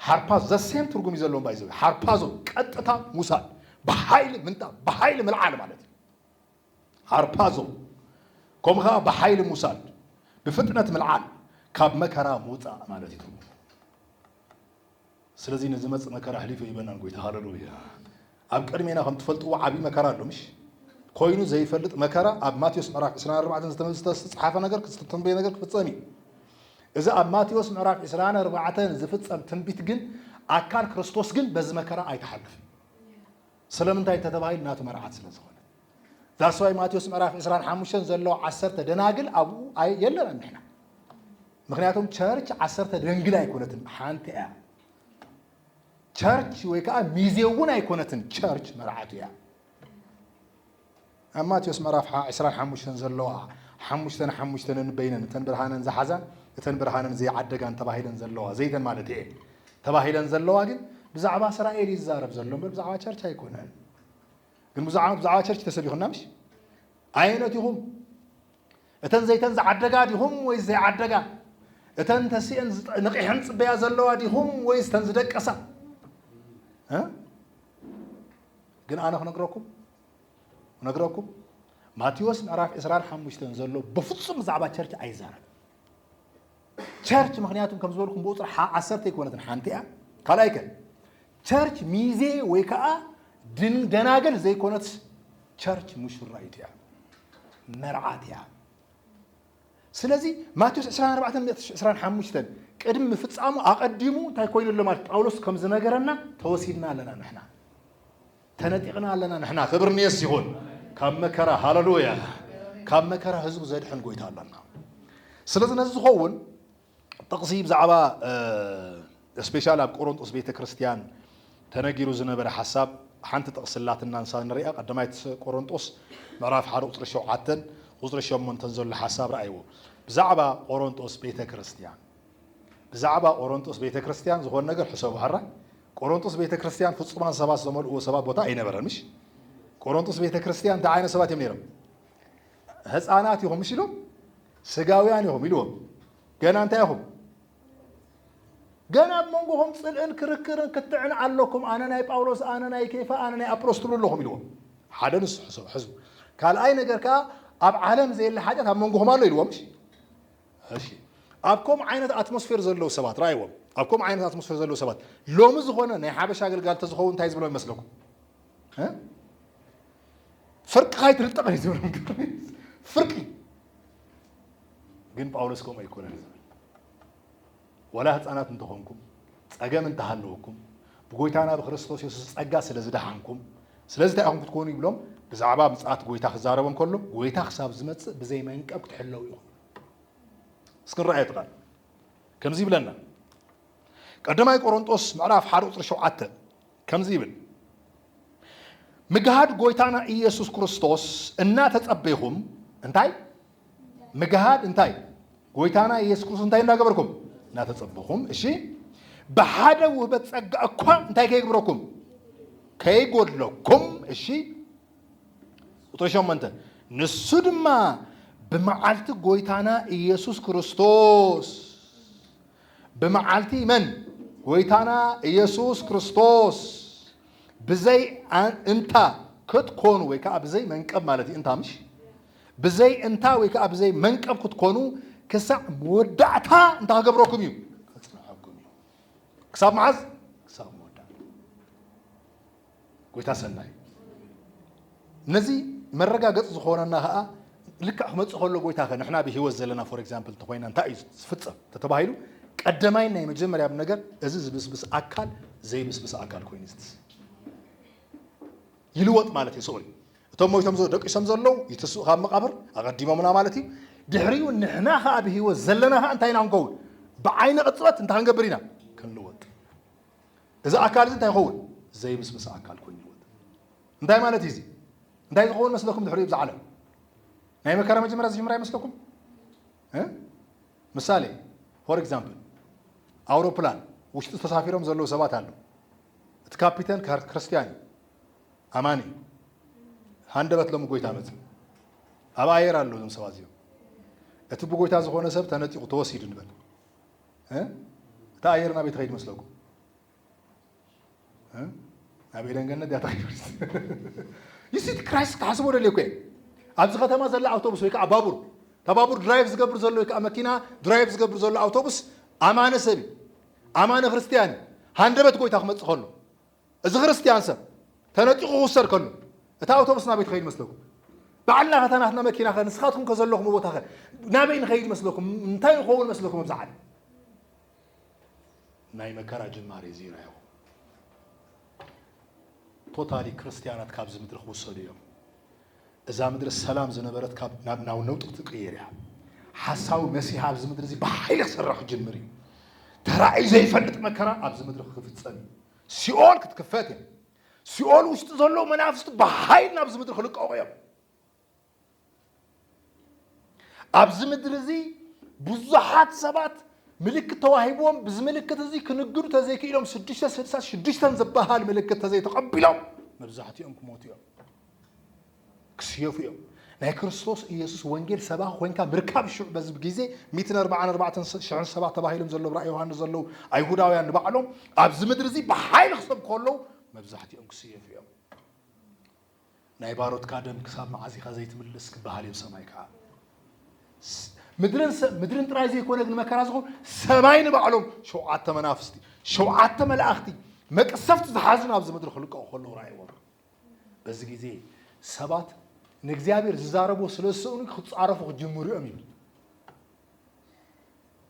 ሓርፓዞ ዘሴም ትርጉም እዩ ዘለዎም ባይዘ ሓርፓዞ ቀጥታ ምውሳድ ብሓይሊ ምንጣብ ብሓይሊ ምልዓል ማለት እዩ ሃርፓዞ ከምኡ ከኣ ብሓይሊ ምውሳድ፣ ብፍጥነት ምልዓል፣ ካብ መከራ ምውጻእ ማለት እዩ ትርጉሙ። ስለዚ ንዝመጽእ መከራ ኣሕሊፉ ሂበናን ጎይታ ሃለሉያ። ኣብ ቅድሜና ከም ትፈልጥዎ ዓቢ መከራ ኣሎ ምሽ ኮይኑ ዘይፈልጥ መከራ ኣብ ማቴዎስ ምዕራፍ 24 ዝተመዝተ ዝተጻሓፈ ነገር ዝተተንበየ ነገር ክፍጸም እዩ። እዚ ኣብ ማቴዎስ ምዕራፍ 24 ዝፍጸም ትንቢት ግን ኣካል ክርስቶስ ግን በዚ መከራ ኣይተሓልፍን። ስለምንታይ እንተተባሂሉ ናቱ መርዓት ስለ ዝኾነ That's why ማቴዎስ ምዕራፍ ዕስራን ሓሙሽተን ዘሎ ዓሰርተ ደናግል ኣብኡ ኣይ- የለናን ንሕና ምክንያቱም ቸርች ዓሰርተ ደንግል ኣይኮነትን ሓንቲ እያ ቸርች ወይ ከዓ ሚዜ እውን ኣይኮነትን ቸርች መርዓቱ እያ ኣብ ማቴዎስ ምዕራፍ ሓ ዕስራን ሓሙሽተን ዘለዋ ሓሙሽተን ሓሙሽተ ነንበይነን እተን ብርሃነን ዝሓዛ እተን ብርሃነን ዘይዓደጋን ተባሂለን ዘለዋ ዘይተን ማለት እየን ተባሂለን ዘለዋ ግን ብዛዕባ እስራኤል እዩ ዝዛረብ ዘሎ እምበር ብዛዕባ ቸርች ኣይኮነን። ግን ብዙሓት ብዛዕባ ቸርች ተሰቢኹና ምሽ ኣየነት ኢኹም እተን ዘይተን ዝዓደጋ ዲኹም ወይስ ዘይዓደጋ እተን ተሲኤን ንቂሐን ፅበያ ዘለዋ ዲኹም ወይስ እተን ዝደቀሳ ግን ኣነ ክነግረኩም ክነግረኩም ማቴዎስ ምዕራፍ ዕስራን ሓሙሽተን ዘሎ ብፍጹም ብዛዕባ ቸርች ኣይዛረብ ቸርች ምክንያቱም ከም ዝበልኩም ብቁፅሪ ዓሰርተ ኣይኮነትን ሓንቲ እያ ካልኣይ ከ ቸርች ሚዜ ወይ ከዓ ድን ደናግል ዘይኮነት ቸርች ሙሽራይት እያ መርዓት እያ ስለዚ ማቴዎስ ዕስራን ኣርባዕተን ምእቲ ዕስራን ሓሙሽተን ቅድሚ ምፍጻሙ ኣቐዲሙ እንታይ ኮይኑ ኣሎ ማለት ጳውሎስ ከም ዝነገረና ተወሲድና ኣለና ንሕና ተነጢቕና ኣለና ንሕና ክብሪ ንየሱስ ይኹን ካብ መከራ ሃለሉያ ካብ መከራ ህዝቡ ዘድሕን ጎይታ ኣለና ስለዚ ነዚ ዝኸውን ጥቕሲ ብዛዕባ እስፔሻል ኣብ ቆሮንጦስ ቤተ ክርስቲያን ተነጊሩ ዝነበረ ሓሳብ ሓንቲ ጥቕሲ ኣላትና ንሳ ንርኣ ቀዳማይት ቆሮንጦስ ምዕራፍ ሓደ ቁፅሪ ሸውዓተን ቁፅሪ ሸሞንተን ዘሎ ሓሳብ ረኣይዎ ብዛዕባ ቆሮንጦስ ቤተ ክርስቲያን ብዛዕባ ቆሮንጦስ ቤተ ክርስቲያን ዝኾነ ነገር ሕሰቡ ሓራ ቆሮንጦስ ቤተ ክርስቲያን ፍጹማን ሰባት ዝተመልእዎ ሰባት ቦታ ኣይነበረን ምሽ ቆሮንጦስ ቤተ ክርስቲያን እንታይ ዓይነት ሰባት እዮም ነይሮም ህፃናት ኢኹም ምስ ኢሎም ስጋውያን ኢኹም ኢልዎም ገና እንታይ ኢኹም ገና ኣብ መንጎኹም ፅልእን ክርክርን ክትዕን ኣለኩም ኣነ ናይ ጳውሎስ ኣነ ናይ ኬፋ ኣነ ናይ ኣጵሎስ ትብሉ ኣለኹም ኢልዎም ሓደ ንሱ ሕሰቡ ሕዝቡ ካልኣይ ነገር ከዓ ኣብ ዓለም ዘየለ ሓጢኣት ኣብ መንጎኹም ኣሎ ኢልዎም እሺ ኣብ ከምኡ ዓይነት ኣትሞስፌር ዘለዉ ሰባት ራእይዎም ኣብ ከምኡ ዓይነት ኣትሞስፌር ዘለዉ ሰባት ሎሚ ዝኾነ ናይ ሓበሻ ኣገልጋሊ ተዝኸውን እንታይ ዝብሎም ይመስለኩም ፍርቂ ካይትርጠቕ እዩ ዝብሎም ፍርቂ ግን ጳውሎስ ከምኡ ኣይኮነን ዝብል ወላ ህፃናት እንተኾንኩም ፀገም እንተሃለወኩም ብጎይታና ብክርስቶስ የሱስ ጸጋ ስለ ዝደሓንኩም ስለዚ እንታይ ኢኹም ክትኮኑ ይብሎም ብዛዕባ ምፅኣት ጎይታ ክዛረቦ እንከሎ ጎይታ ክሳብ ዝመፅእ ብዘይ መንቀብ ክትሕለው ኢኹም እስኪ ንረኣየ ትቃል ከምዚ ይብለና ቀዳማይ ቆሮንጦስ ምዕራፍ ሓደ ቁፅሪ ሸውዓተ ከምዚ ይብል ምግሃድ ጎይታና ኢየሱስ ክርስቶስ እናተጸበይኹም እንታይ ምግሃድ እንታይ ጎይታና ኢየሱስ ክርስቶስ እንታይ እናገበርኩም እናተጸበኹም እሺ ብሓደ ውህበት ጸጋ እኳ እንታይ ከይግብረኩም ከይጎድለኩም እሺ ቁጥሪ ሸሞንተ ንሱ ድማ ብመዓልቲ ጎይታና ኢየሱስ ክርስቶስ ብመዓልቲ መን? ጐይታና ኢየሱስ ክርስቶስ ብዘይ እንታ ክትኮኑ ወይ ከኣ ብዘይ መንቀብ ማለት እዩ እንታ ምሽ ብዘይ እንታ ወይ ከኣ ብዘይ መንቀብ ክትኮኑ ክሳዕ መወዳእታ እንታ ክገብረኩም እዩ ከጽንዓኩም እዩ ክሳብ መዓዝ ክሳብ መወዳእታ ጎይታ ሰናይ ነዚ መረጋገጽ ዝኾነና ከኣ ልክዕ ክመጽእ ከሎ ጎይታ ከ ንሕና ብህይወት ዘለና ፎር ኤግዛምፕል እንተኾይና እንታይ እዩ ዝፍጸም ተተባሂሉ ቀደማይ ናይ መጀመርያ ነገር እዚ ዝብስብስ ኣካል ዘይብስብስ ኣካል ኮይኑ ዝትስ ይልወጥ ማለት እዩ ስዑል እቶም ሞይቶም ደቂሶም ዘለዉ ይትስኡ ካብ መቃብር ኣቐዲሞምና ማለት እዩ ድሕሪኡ ንሕና ከዓ ብህይወት ዘለና ከዓ እንታይ ኢና ክንከውን ብዓይኒ ቅፅበት እንታይ ክንገብር ኢና ክንልወጥ እዚ ኣካል እዚ እንታይ ይኸውን? ዘይምስምሰ ኣካል ኮይኑ ይወት። እንታይ ማለት እዩ እዚ? እንታይ ዝኸውን መስለኩም ድሕሪኡ ብዛ ዓለም? ናይ መከራ መጀመርያ ዝጅምራ ይመስለኩም? ምሳሌ ፎር ኤግዛምፕል ኣውሮፕላን ውሽጢ ተሳፊሮም ዘለዉ ሰባት ኣለዉ። እቲ ካፒተን ክርስትያን እዩ፣ ኣማኒ እዩ። ሃንደበት ሎሚ ጎይታ መፅ ኣብ ኣየር ኣለዉ እዞም ሰባት እዚኦም። እቲ ብጎይታ ዝኾነ ሰብ ተነጢቑ ተወሲዱ ንበል። እታ ኣየር ናበይ ትኸይድ መስለኩም? ናብ ኤደን ገነት እያ ትኸይድ። ይሲቲ ክራይስት ክሓስቦ ደልየ እኮ ኣብዚ ከተማ ዘላ ኣውቶቡስ ወይ ከዓ ባቡር እታ ባቡር ድራይቭ ዝገብር ዘሎ ወይ ከዓ መኪና ድራይቭ ዝገብር ዘሎ ኣውቶቡስ ኣማነ ሰብ ኣማነ ክርስትያን ሃንደበት ጎይታ ክመፅእ ከሎ እዚ ክርስትያን ሰብ ተነጢቑ ክውሰድ ከሎ እታ ኣውቶቡስ ናበይ ትኸይድ መስለኩም? ባዕልና ከታ ናትና መኪና ከ ንስኻትኩም ከዘለኹም ቦታ ከ ናበይ ንኸይድ መስለኩም? እንታይ ይኸውን መስለኩም ኣብዚ ዓለም? ናይ መከራ ጅማሬ እዚ ኢና ይኹ ቶታሊ ክርስትያናት ካብዚ ምድሪ ክውሰዱ እዮም። እዛ ምድሪ ሰላም ዝነበረት ካብ ናብ ናብ ነውጢ ክትቅየር እያ። ሓሳዊ መሲህ ኣብዚ ምድሪ እዚ ብሓይሊ ክስራሕ ክጅምር እዩ። ተራእዩ ዘይፈልጥ መከራ ኣብዚ ምድሪ ክፍጸም እዩ። ሲኦል ክትክፈት እያ። ሲኦል ውሽጢ ዘለዉ መናፍስቲ ብሓይሊ ናብዚ ምድሪ ክልቀቑ እዮም። ኣብዚ ምድሪ እዚ ብዙሓት ሰባት ምልክት ተዋሂብዎም ብዚ ምልክት እዚ ክንግዱ ተዘይክኢሎም ሽዱሽተ ስድሳ ሽዱሽተን ዝበሃል ምልክት ተዘይተቐቢሎም መብዛሕትኦም ክሞቱ እዮም ክስየፉ እዮም ናይ ክርስቶስ ኢየሱስ ወንጌል ሰባ ኮንካ ምርካብ ሽዑ በዚ ግዜ ሚትን ኣርባዓን ኣርባዕተን ሽሕን ሰባት ተባሂሎም ዘለዉ ራእይ ዮሃንስ ዘለዉ ኣይሁዳውያን ንባዕሎም ኣብዚ ምድሪ እዚ ብሓይሊ ክሰብኩ ከለዉ መብዛሕትኦም ክስየፉ እዮም ናይ ባሮትካ ደም ክሳብ መዓዝ ኢኻ ዘይትምልስ ክበሃል እዩኣብ ሰማይ ከዓ ምድርን ጥራይ ዘይኮነ ግን መከራ ዝኾኑ ሰማይ ንባዕሎም ሸውዓተ መናፍስቲ ሸውዓተ መላእኽቲ መቅሰፍቲ ዝሓዙ ናብዚ ምድሪ ክልቀቑ ከለዉ ራእይዎም በዚ ግዜ ሰባት ንእግዚኣብሔር ዝዛረቦ ስለ ዝሰእኑ ክፃረፉ ክጅምሩ እዮም ይብል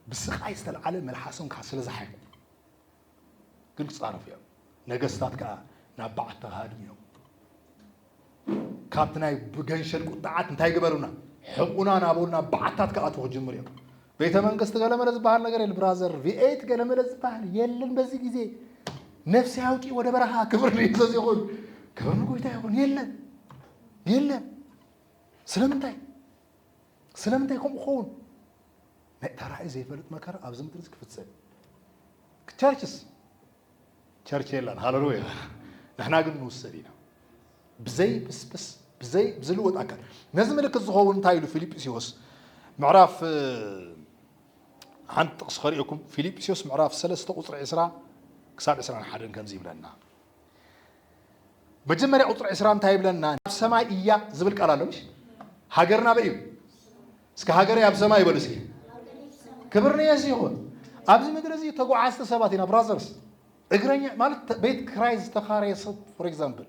ብስቃይ ዝተለዓለ መልሓሶም ከዓ ስለ ዝሓይኩ ግልፂ ኣረፍ እዮም ነገስታት ከዓ ናብ በዓት ተኻድም እዮም ካብቲ ናይ ብገንሸል ቁጣዓት እንታይ ግበሩና ሕቁና ናበልና በዓታት ክኣትዉ ክጅምር እዮም ቤተ መንግስት ገለመለ ዝበሃል ነገር የለ ብራዘር ቪኤት ገለመለ ዝበሃል የለን በዚ ግዜ ነፍሲ ኣውጪ ወደ በረኻ ክብር ንየሱስ ይኹን ክብር ንጎይታ ይኹን የለን የለን ስለምንታይ ስለምንታይ ከምኡ ክኸውን ናይ ተራእዩ ዘይፈልጥ መከራ ኣብዚ ምድሪ እዚ ክፍጸም እዩ። ቸርችስ ቸርች የላን ሃለሉያ። ንሕና ግን ንውሰድ ኢና ብዘይ ብስብስ ብዘይ ብዝልወጥ ኣካል ነዚ ምልክት ዝኸውን እንታይ ኢሉ ፊልጵስዮስ ምዕራፍ ሓንቲ ጥቕሲ ከሪኦኩም ፊልጵስዮስ ምዕራፍ ሰለስተ ቁፅሪ ዕስራ ክሳብ ዕስራን ሓደን ከምዚ ይብለና መጀመርያ ቁፅሪ ዕስራ እንታይ ይብለና? ኣብ ሰማይ እያ ዝብል ቃል ኣሎ ምሽ? ሃገርና ኣበይ እዩ? እስከ ሃገረይ ኣብ ሰማይ ይበሉ እስኪ። ክብር ንየሱ ይኹን። ኣብዚ ምድሪ እዚ ተጓዓዝቲ ሰባት ኢና ብራዘርስ። እግረኛ ማለት ቤት ክራይ ዝተኻረየ ሰብ ፎር ኤግዛምፕል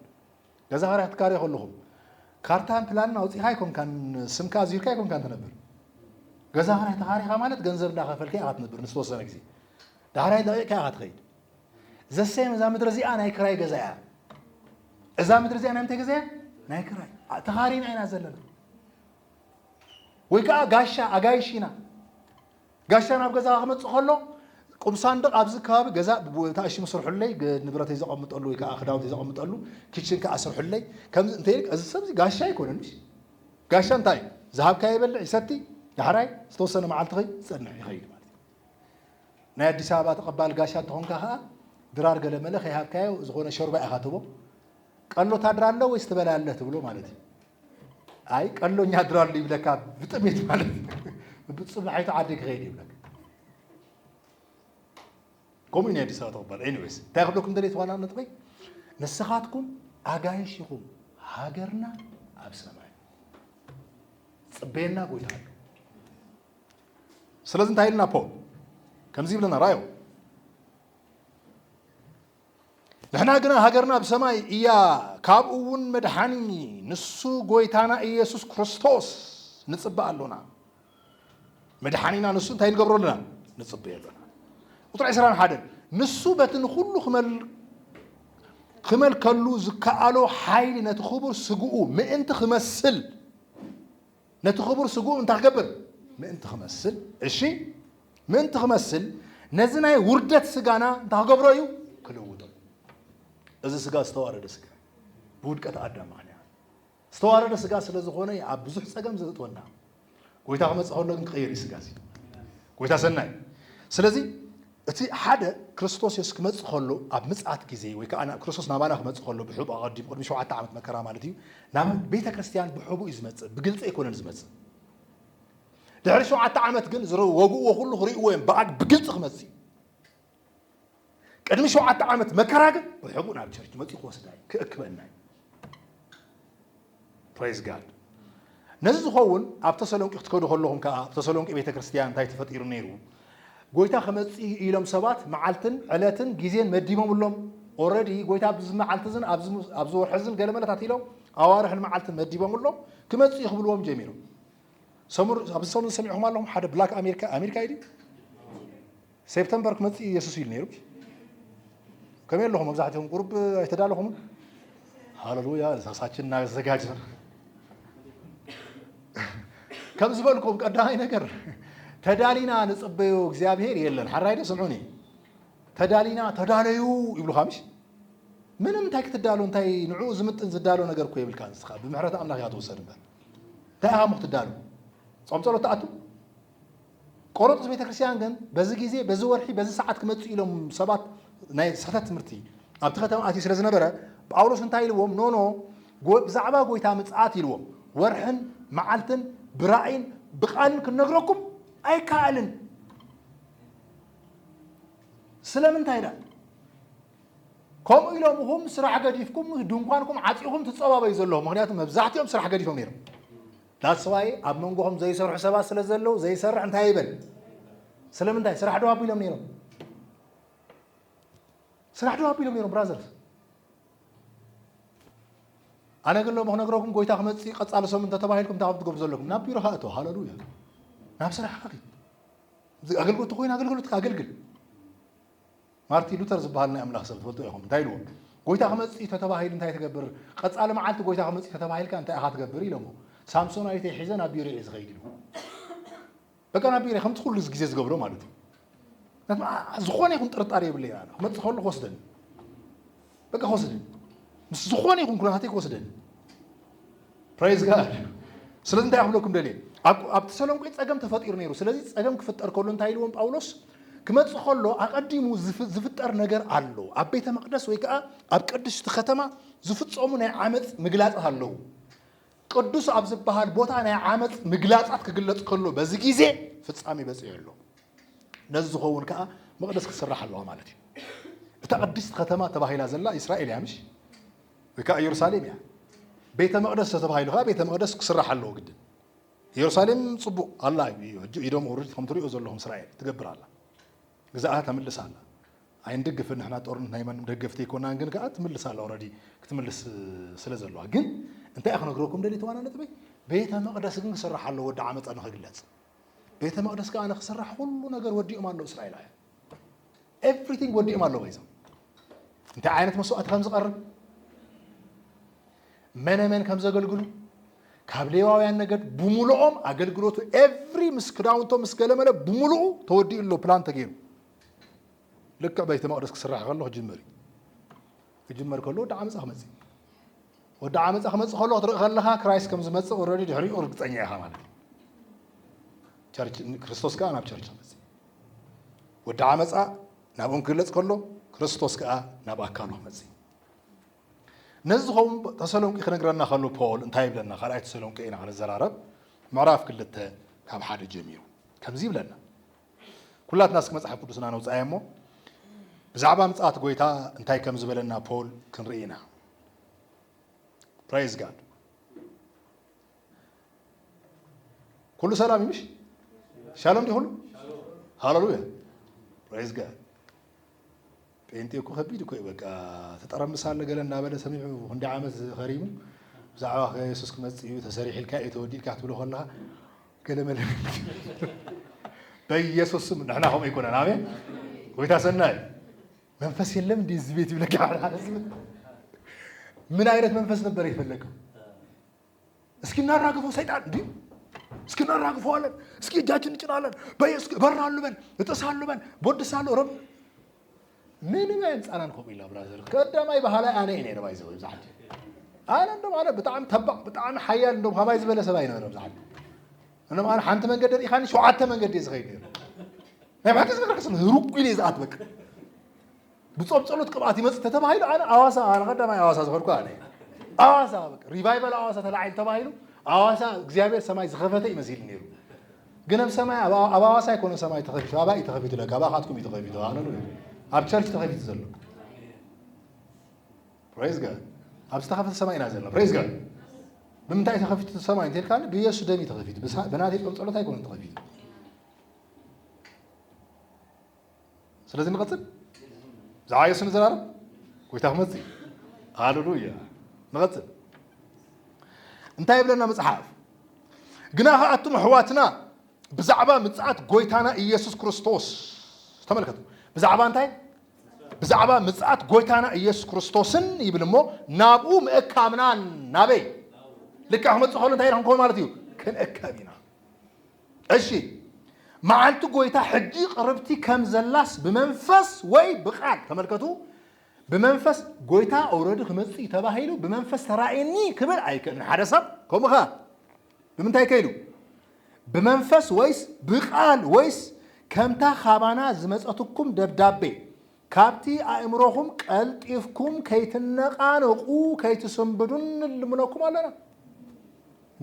ገዛ ክራይ ክትካረዩ ከለኹም ካርታን ፕላንን ኣውፂእካ ኣይኮንካን ስምካ ኣዚርካ ኣይኮንካን ትነብር ገዛ ክራይ ተኻሪኻ ማለት ገንዘብ እንዳኸፈልካ ኢኻ ትነብር ንዝተወሰነ ግዜ ዳሕራይ ለቂቕካ ኢኻ ትኸይድ ዘሰም እዛ ምድሪ እዚኣ ናይ ክራይ ገዛ እያ እዛ ምድሪ እዚኣ ናይ ምንታይ ገዛ እያ ናይ ክራይ ኣ- ተኻሪና ኢና ዘለና ወይ ከዓ ጋሻ ኣጋይሽ ኢና ጋሻ ናብ ገዛ ክመፅእ ከሎ ቁም ሳንድቕ ኣብዚ ከባቢ ገዛ ተኣሽሙ ስርሑለይ ገ- ንብረተይ ዘቐምጠሉ ወይ ከዓ ክዳውንተይ ዘቐምጠሉ ኪችን ከዓ ስርሑለይ ከምዚ እንተ እዚ ሰብ እዚ ጋሻ ኣይኮነን እሺ ጋሻ እንታይ እዩ ዝሃብካ ይበልዕ ይሰቲ ዳሕራይ ዝተወሰነ መዓልቲ ኸይ ዝፀንሕ ይኸይድ ማለት እዩ ናይ ኣዲስ ኣበባ ተቐባል ጋሻ እንተኾንካ ከኣ ድራር ገለመለ ከይሃብካዮ ዝኾነ ሾርባ ኢኻ ትህቦ። ቀሎ ታድራለ ወይስ ትበላለህ ትብሎ ማለት እዩ። ኣይ ቀሎኛ ኣድራሉ ይብለካ ብጥሜት ማለት ብፅባሒቱ ዓዲ ክኸይድ ይብለካ ከምኡ ናይ ኣዲስ ኣበባ ተቕባል ኤኒዌይስ እንታይ ክብለኩም ደለየ ዋና ነጥበ ንስኻትኩም ኣጋይሽ ኢኹም ሃገርና ኣብ ሰማይ ፅበየና ጎይታ ኣሎ ስለዚ እንታይ ኢልና ፖል ከምዚ ይብለና ራዮ ንሕና ግና ሃገርና ኣብ ሰማይ እያ ካብኡ እውን መድሓኒ ንሱ ጎይታና ኢየሱስ ክርስቶስ ንፅበ ኣሎና መድሓኒና ንሱ እንታይ ንገብሮ ኣለና ንፅበዮ ኣለና ቁጥሪ 21 ንሱ በቲ ንኩሉ ክመል ክመልከሉ ዝከኣሎ ሓይሊ ነቲ ክቡር ስግኡ ምእንቲ ክመስል ነቲ ኽቡር ስግኡ እንታይ ክገብር? ምእንቲ ኽመስል፣ እሺ፣ ምእንቲ ኽመስል፣ ነዚ ናይ ውርደት ስጋና እንታይ ክገብሮ እዩ? ክልውጦ እዩ። እዚ ስጋ ዝተዋረደ ስጋ እዩ። ብውድቀት ኣዳም ምኽንያት ዝተዋረደ ስጋ ስለ ዝኾነ እዩ ኣብ ብዙሕ ጸገም ዘእትወና። ጎይታ ክመጽእ ከሎ ግን ክቕየር እዩ ስጋ እዚ። ጎይታ ሰናይ። ስለዚ እቲ ሓደ ክርስቶስ የሱስ ክመጽእ ከሎ ኣብ ምጽኣት ግዜ ወይ ከኣ ክርስቶስ ናባና ክመጽእ ከሎ ብሕቡእ ኣቐዲሙ ቅድሚ ሸውዓተ ዓመት መከራ ማለት እዩ ናብ ቤተ ክርስትያን ብሕቡእ እዩ ዝመጽእ ብግልጺ ኣይኮነን ዝመጽእ ድሕሪ ሸውዓተ ዓመት ግን ዝወግእዎ ኩሉ ክርእይዎ እዮም ብኣግ ብግልፂ ክመፅ እዩ ቅድሚ ሸውዓተ ዓመት መከራ ግን ብሕቡእ ናብ ቸርች መፅኡ ክወስዳ እዩ ክእክበና እዩ Praise God ነዚ ዝኸውን ኣብ ተሰሎንቂ ክትከዱ ከለኹም ከኣ ኣብ ተሰሎንቂ ቤተ ክርስትያን እንታይ ተፈጢሩ ነይሩ ጎይታ ክመጽእ እዩ ኢሎም ሰባት መዓልትን ዕለትን ግዜን መዲቦምሎም ኦረዲ ጎይታ ኣብዚ መዓልቲ እዝን ኣብዚ ወርሒ እዝን ገለ መለታት ኢሎም ኣዋርሕን መዓልትን መዲቦምሎም ክመጽእ እዩ ክብልዎም ጀሚሮም ሰሙን ኣብዚ ሰሙን ዝሰሚዕኹም ኣለኹም ሓደ ብላክ ኣሜሪካ ኣሜሪካ እዩ ሴፕተምበር ክመጽእ እዩ የሱስ ኢሉ ነይሩ። ከመይ ኣለኹም? መብዛሕትኦም ቁሩብ ኣይተዳለኹምን? ሃለሉያ ዛሳችን እናዘጋጀን ከም ዝበልኩም ቀዳማይ ነገር ተዳሊና ንጽበዮ እግዚኣብሄር የለን ሓራይደ ስምዑኒ ተዳሊና ተዳለዩ ይብሉካ ምሽ ምንም እንታይ ክትዳሎ እንታይ ንዕኡ ዝምጥን ዝዳሎ ነገር እኮ የብልካ ንስኻ ብምሕረት ኣምላኽ እያ ትወሰድ እምበር እንታይ ኢኻ ሞ ክትዳሎ ጾም ጸሎት ትኣቱ ቆሮንቶስ ቤተክርስትያን ግን በዚ ግዜ በዚ ወርሒ በዚ ሰዓት ክመጽእ ኢሎም ሰባት ናይ ስሕተት ትምህርቲ ኣብቲ ከተማ ኣትዩ ስለ ዝነበረ ጳውሎስ እንታይ ኢልዎም ኖኖ ብዛዕባ ጎይታ ምጽኣት ኢልዎም ወርሕን መዓልትን ብራእይን ብቃልን ክንነግረኩም ኣይከኣልን ስለምንታይ ዳ ከምኡ ኢሎም እኹም ስራሕ ገዲፍኩም ድንኳንኩም ዓፂኹም ትፀባበዩ ዘለኹም ምክንያቱ መብዛሕትኦም ስራሕ ገዲፎም ነይሮም That's why ኣብ መንጎኹም ዘይሰርሑ ሰባት ስለ ዘለዉ ዘይሰርሕ እንታይ ይበል ስለምንታይ ስራሕ ዶ ኣቢሎም ነይሮም ስራሕ ዶ ኣቢሎም ነይሮም ብራዘርስ ኣነ ግን ሎሚ ክነግረኩም ጎይታ ክመፅእ ቀፃሊ ሰሙን እንተተባሂልኩም እንታይ ከም ትገብሩ ዘለኩም ናብ ቢሮኻ እቶ ሃለሉያ ናብ ስራሕኻ ኪድ ኣገልግሎት ኮይን ኣገልግሎትካ ኣገልግል ማርቲ ሉተር ዝበሃል ናይ ኣምላኽ ሰብ ትፈልጥዎ ኢኹም። እንታይ ኢልዎ? ጎይታ ክመጽእ እዩ ተተባሂሉ እንታይ ትገብር? ቀጻሊ መዓልቲ ጎይታ ክመጽእ እዩ ተተባሂልካ እንታይ ኢኻ ትገብር? ኢሎሞ። ሳምሶናዊተይ ሒዘ ናብ ቢሮይ እየ ዝኸይድ ኢሉ። በቃ ናብ ቢሮይ ከምቲ ኩሉ ግዜ ዝገብሮ ማለት እዩ። ዝኾነ ይኹን ጥርጣሬ የብለይን ኣነ ክመጽእ ከሎ ክወስደኒ። በቃ ክወስደኒ ምስ ዝኾነ ይኹን ኩነታተይ ክወስደኒ ፕሬዝ ጋድ ስለዚ እንታይ ክብለኩም ደልየ ኣብ ተሰሎንቄ ፀገም ተፈጢሩ ነይሩ ስለዚ ፀገም ክፍጠር ከሎ እንታይ ኢልዎም ጳውሎስ ክመፅእ ከሎ ኣቐዲሙ ዝፍጠር ነገር ኣሎ ኣብ ቤተ መቅደስ ወይ ከዓ ኣብ ቅድስቲ ከተማ ዝፍፀሙ ናይ ዓመፅ ምግላፃት ኣለዉ ቅዱስ ኣብ ዝበሃል ቦታ ናይ ዓመፅ ምግላፃት ክግለፅ ከሎ በዚ ግዜ ፍፃሜ በፂሑ ኣሎ። ነዚ ዝኸውን ከዓ መቕደስ ክትስራሕ ኣለዋ ማለት እዩ። እታ ቅድስት ከተማ ተባሂላ ዘላ እስራኤል እያ ምሽ ወይ ከዓ ኢየሩሳሌም እያ። ቤተ መቕደስ ተተባሂሉ ከዓ ቤተ መቕደስ ክስራሕ ኣለዎ ግድን። ኢየሩሳሌም ፅቡቕ ኣላ ኢዶም ውርድ ከም ትሪኦ ዘለኹም እስራኤል ትገብር ኣላ። ግዝኣታ ተምልስ ኣላ ኣይንድግፍን ንሕና ጦርነት ናይ ማንም ደገፍቲ ኣይኮናን ግን ከኣ ትምልስ ኣላ ኦረዲ ክትምልስ ስለ ዘለዋ ግን እንታይ እየ ክነግረኩም ደልየ ተዋና ነጥበይ ቤተ መቅደስ ግን ክስራሕ ኣለዎ ወዲ ዓመፃ ንክግለፅ ቤተ መቅደስ ከኣ ንክስራሕ ኩሉ ነገር ወዲኦም ኣለዉ እስራኤላውያን ኤቭሪቲንግ ወዲኦም ኣለዎ ይዞም እንታይ ዓይነት መስዋእቲ ከም ዝቐርብ መነ መን ከም ዘገልግሉ ካብ ሌዋውያን ነገድ ብምሉኦም ኣገልግሎቱ ኤቭሪ ምስ ክዳውንቶ ምስ ገለመለ ብምሉኡ ተወዲኡ ኣሎ ፕላን ተገይሩ ልክዕ ቤተ መቅደስ ክስራሕ ከሎ ክጅመር እዩ ክጅመር ከሎ ወዲ ዓመፃ ክመፅእ ወዲ ዓመፃ ክመፅእ ከሎ ክትርኢ ከለካ ክራይስት ከም ዝመፅእ ኦልሬዲ ድሕሪኡ እርግፀኛ ኢኻ ማለት እዩ ቸርች ክርስቶስ ከዓ ናብ ቸርች ክመፅእ ወዲ ዓመፃ ናብኦም ክግለፅ ከሎ ክርስቶስ ከዓ ናብ ኣካሉ ክመፅእ ነዚ ዝኸውን ተሰሎንቂ ክነግረና ከሎ ፖል እንታይ ይብለና? ካልኣይ ተሰሎንቂ ኢና ክንዘራረብ ምዕራፍ ክልተ ካብ ሓደ ጀሚሩ ከምዚ ይብለና ኩላትና እስኪ መጽሓፍ ቅዱስና ነውጽኣዮ እሞ ብዛዕባ ምጽኣት ጎይታ እንታይ ከም ዝበለና ፖል ክንርኢ ኢና ፕሬዝ ጋድ ኩሉ ሰላም ይምሽ ሻሎም ዲኹሉ ሃለሉያ ፕሬዝ ጋድ ጴንጤ እኮ ከቢድ እኮ እዩ በቃ ተጠረምስ ኣለ ገለ እናበለ ሰሚዑ ክንደይ ዓመት ኸሪሙ ብዛዕባ ከ የሱስ ክመጽእ እዩ ተሰሪሒልካ እዩ ተወዲልካ ክትብሎ ከለኻ ገለ መለ በኢየሱስ ስም ንሕና ከምኡ ኣይኮነን ኣሜን ጎይታ ሰናይ መንፈስ የለም እንዲህ እዚህ ቤት ይብለካ ምን አይነት መንፈስ ነበር የፈለገው እስኪ እናራግፈው ሰይጣን እንዲ እስኪ እናራግፈዋለን። እስኪ እጃችን እንጭናለን። በየሱስ እበራሉ በል እጥሳሉ በል ቦድሳሉ ረብ ምንም ኣየንፃናን ከምኡ ኢልና ብራዘር ቀዳማይ ባህላይ ኣነ እየ ነይረ ባይዘ ብዛዕት ኣነ እንደም ኣነ ብጣዕሚ ተባዕ ብጣዕሚ ሓያል እንደም ካባይ ዝበለ ሰብ ኣይነበረ ብዛዕት እንደም ኣነ ሓንቲ መንገዲ ርኢኻኒ ሸውዓተ መንገዲ እየ ዝኸይድ ነይረ ናይ ባሕቲ ዝመረከስ ህሩጉ ኢለ ዝኣት በቃ ብጾም ጸሎት ቅብኣት ይመጽእ ተተባሂሉ ኣነ ኣዋሳ ኣነ ቀዳማይ ኣዋሳ ዝኸድኩ ኣነ ኣዋሳ በቃ ሪቫይቫል ኣዋሳ ተላዒል ተባሂሉ ኣዋሳ እግዚኣብሔር ሰማይ ዝኸፈተ እዩ መሲሉ ነይሩ ግን ኣብ ሰማይ ኣብ ኣዋሳ ኣይኮነ ሰማይ ተኸፊቱ ኣባ እዩ ተኸፊቱ ለካ ኣባኻትኩም እዩ ተኸፊቱ ኣነ ኣብ ቸርች ተኸፊቱ ዘሎ ፕሬዝ ጋድ ኣብ ዝተኸፈተ ሰማይ ኢና ዘለና ፕሬዝ ጋድ ብምንታይ ተኸፊቱ ሰማይ እንተልካ ብኢየሱስ ደም እዩ ተኸፊቱ ብናተይ ጾም ጸሎት ኣይኮነን ተኸፊቱ ስለዚ ንቐፅል ብዛዕባ የሱ ንዘራረብ ጎይታ ክመፅእ እዩ ሃለሉያ ንቐፅል እንታይ ይብለና መፅሓፍ ግና ከዓ ኣቱም ኣሕዋትና ብዛዕባ ምፅኣት ጎይታና ኢየሱስ ክርስቶስ ተመልከቱ ብዛዕባ እንታይ ብዛዕባ ምፅኣት ጎይታና ኢየሱስ ክርስቶስን ይብል እሞ ናብኡ ምእካብናን ናበይ ልክዕ ክመፅእ ከሎ እንታይ ኢና ክንከውን ማለት እዩ ክንእከብ ኢና እሺ መዓልቲ ጎይታ ሕጂ ቅርብቲ ከም ዘላስ ብመንፈስ ወይ ብቃል ተመልከቱ ብመንፈስ ጎይታ ኦረዲ ክመጽእ እዩ ተባሂሉ ብመንፈስ ተራእየኒ ክብል ኣይክእልን ሓደ ሰብ ከምኡ ከ ብምንታይ ከይሉ ብመንፈስ ወይስ ብቃል ወይስ ከምታ ካባና ዝመጸትኩም ደብዳቤ ካብቲ ኣእምሮኹም ቀልጢፍኩም ከይትነቓነቑ ከይትስንብዱ ንልምነኩም ኣሎና።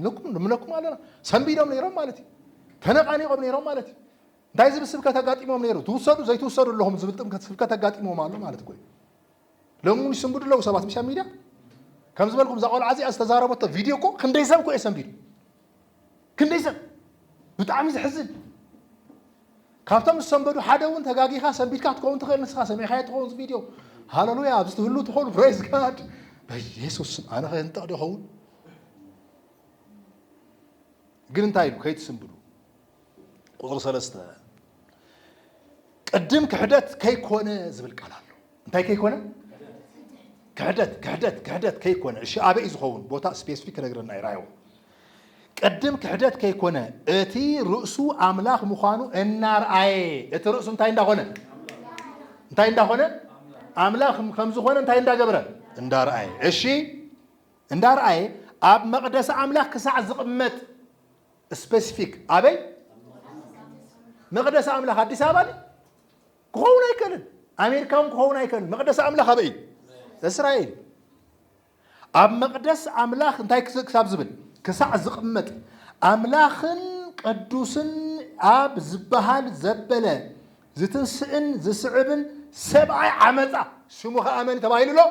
ንልምነኩም ኣሎና። ሰንቢዶም ነይሮም ማለት እዩ። ተነቓኒቖም ነይሮም ማለት እዩ። እንታይ ዝብል ስብከት ኣጋጢሞም ነይሩ? ትውሰዱ ዘይትውሰዱ ኣለኹም ዝብል ጥምከት ስብከት ኣጋጢሞም ኣሎ ማለት እኮ እዩ። ሎሚ እውን ይስንብዱ ኣለዉ ሰባት ምሻ ሚድያ ከም ዝበልኩም እዛ ቆልዓ እዚኣ ዝተዛረበቶ ቪድዮ እኮ ክንደይ ሰብ እኮ እየ ሰንቢዱ ክንደይ ሰብ ብጣዕሚ ዘሕዝን ካብቶም ዝሰንበዱ ሓደ እውን ተጋጊኻ ሰንቢድካ ትኸውን ትኽእል ንስኻ ሰሚዕካዮ ትኸውን ቪድዮ ሃለሉያ ኣብዚ ትህሉ ትኾኑ ፕሬዝ ጋድ በኢየሱስ ስም ኣነ ከንጠቕ ዶ ይኸውን ግን እንታይ ኢሉ ከይትስንብዱ ቁጽሪ ሰለስተ ቅድም ክሕደት ከይኮነ ዝብል ቃል ኣሎ እንታይ ከይኮነ ክሕደት ክሕደት ክሕደት ከይኮነ እሺ ኣበይ ዝኸውን ቦታ ስፔሲፊክ ክነግረና እዩ ራዮ ቅድም ክሕደት ከይኮነ እቲ ርእሱ ኣምላኽ ምዃኑ እናርኣየ እቲ ርእሱ እንታይ እንዳኾነ እንታይ እንዳኾነ ኣምላኽ ከም ዝኾነ እንታይ እንዳገብረ እንዳርኣየ እሺ እንዳርኣየ ኣብ መቕደሲ ኣምላኽ ክሳዕ ዝቕመጥ ስፐሲፊክ ኣበይ መቅደስ ኣምላኽ ኣዲስ ኣበባ ድዩ? ክኸውን ኣይክእልን ኣሜሪካ እውን ክኸውን ኣይክእልን መቅደስ ኣምላኽ ኣበይ እዩ እስራኤል እዩ። ኣብ መቅደስ ኣምላኽ እንታይ ክስ- ክሳብ ዝብል ክሳዕ ዝቕመጥ ኣምላኽን ቅዱስን ኣብ ዝበሃል ዘበለ ዝትንስእን ዝስዕብን ሰብኣይ ዓመፃ ሽሙ ከዓ መን ተባሂሉ ኣሎ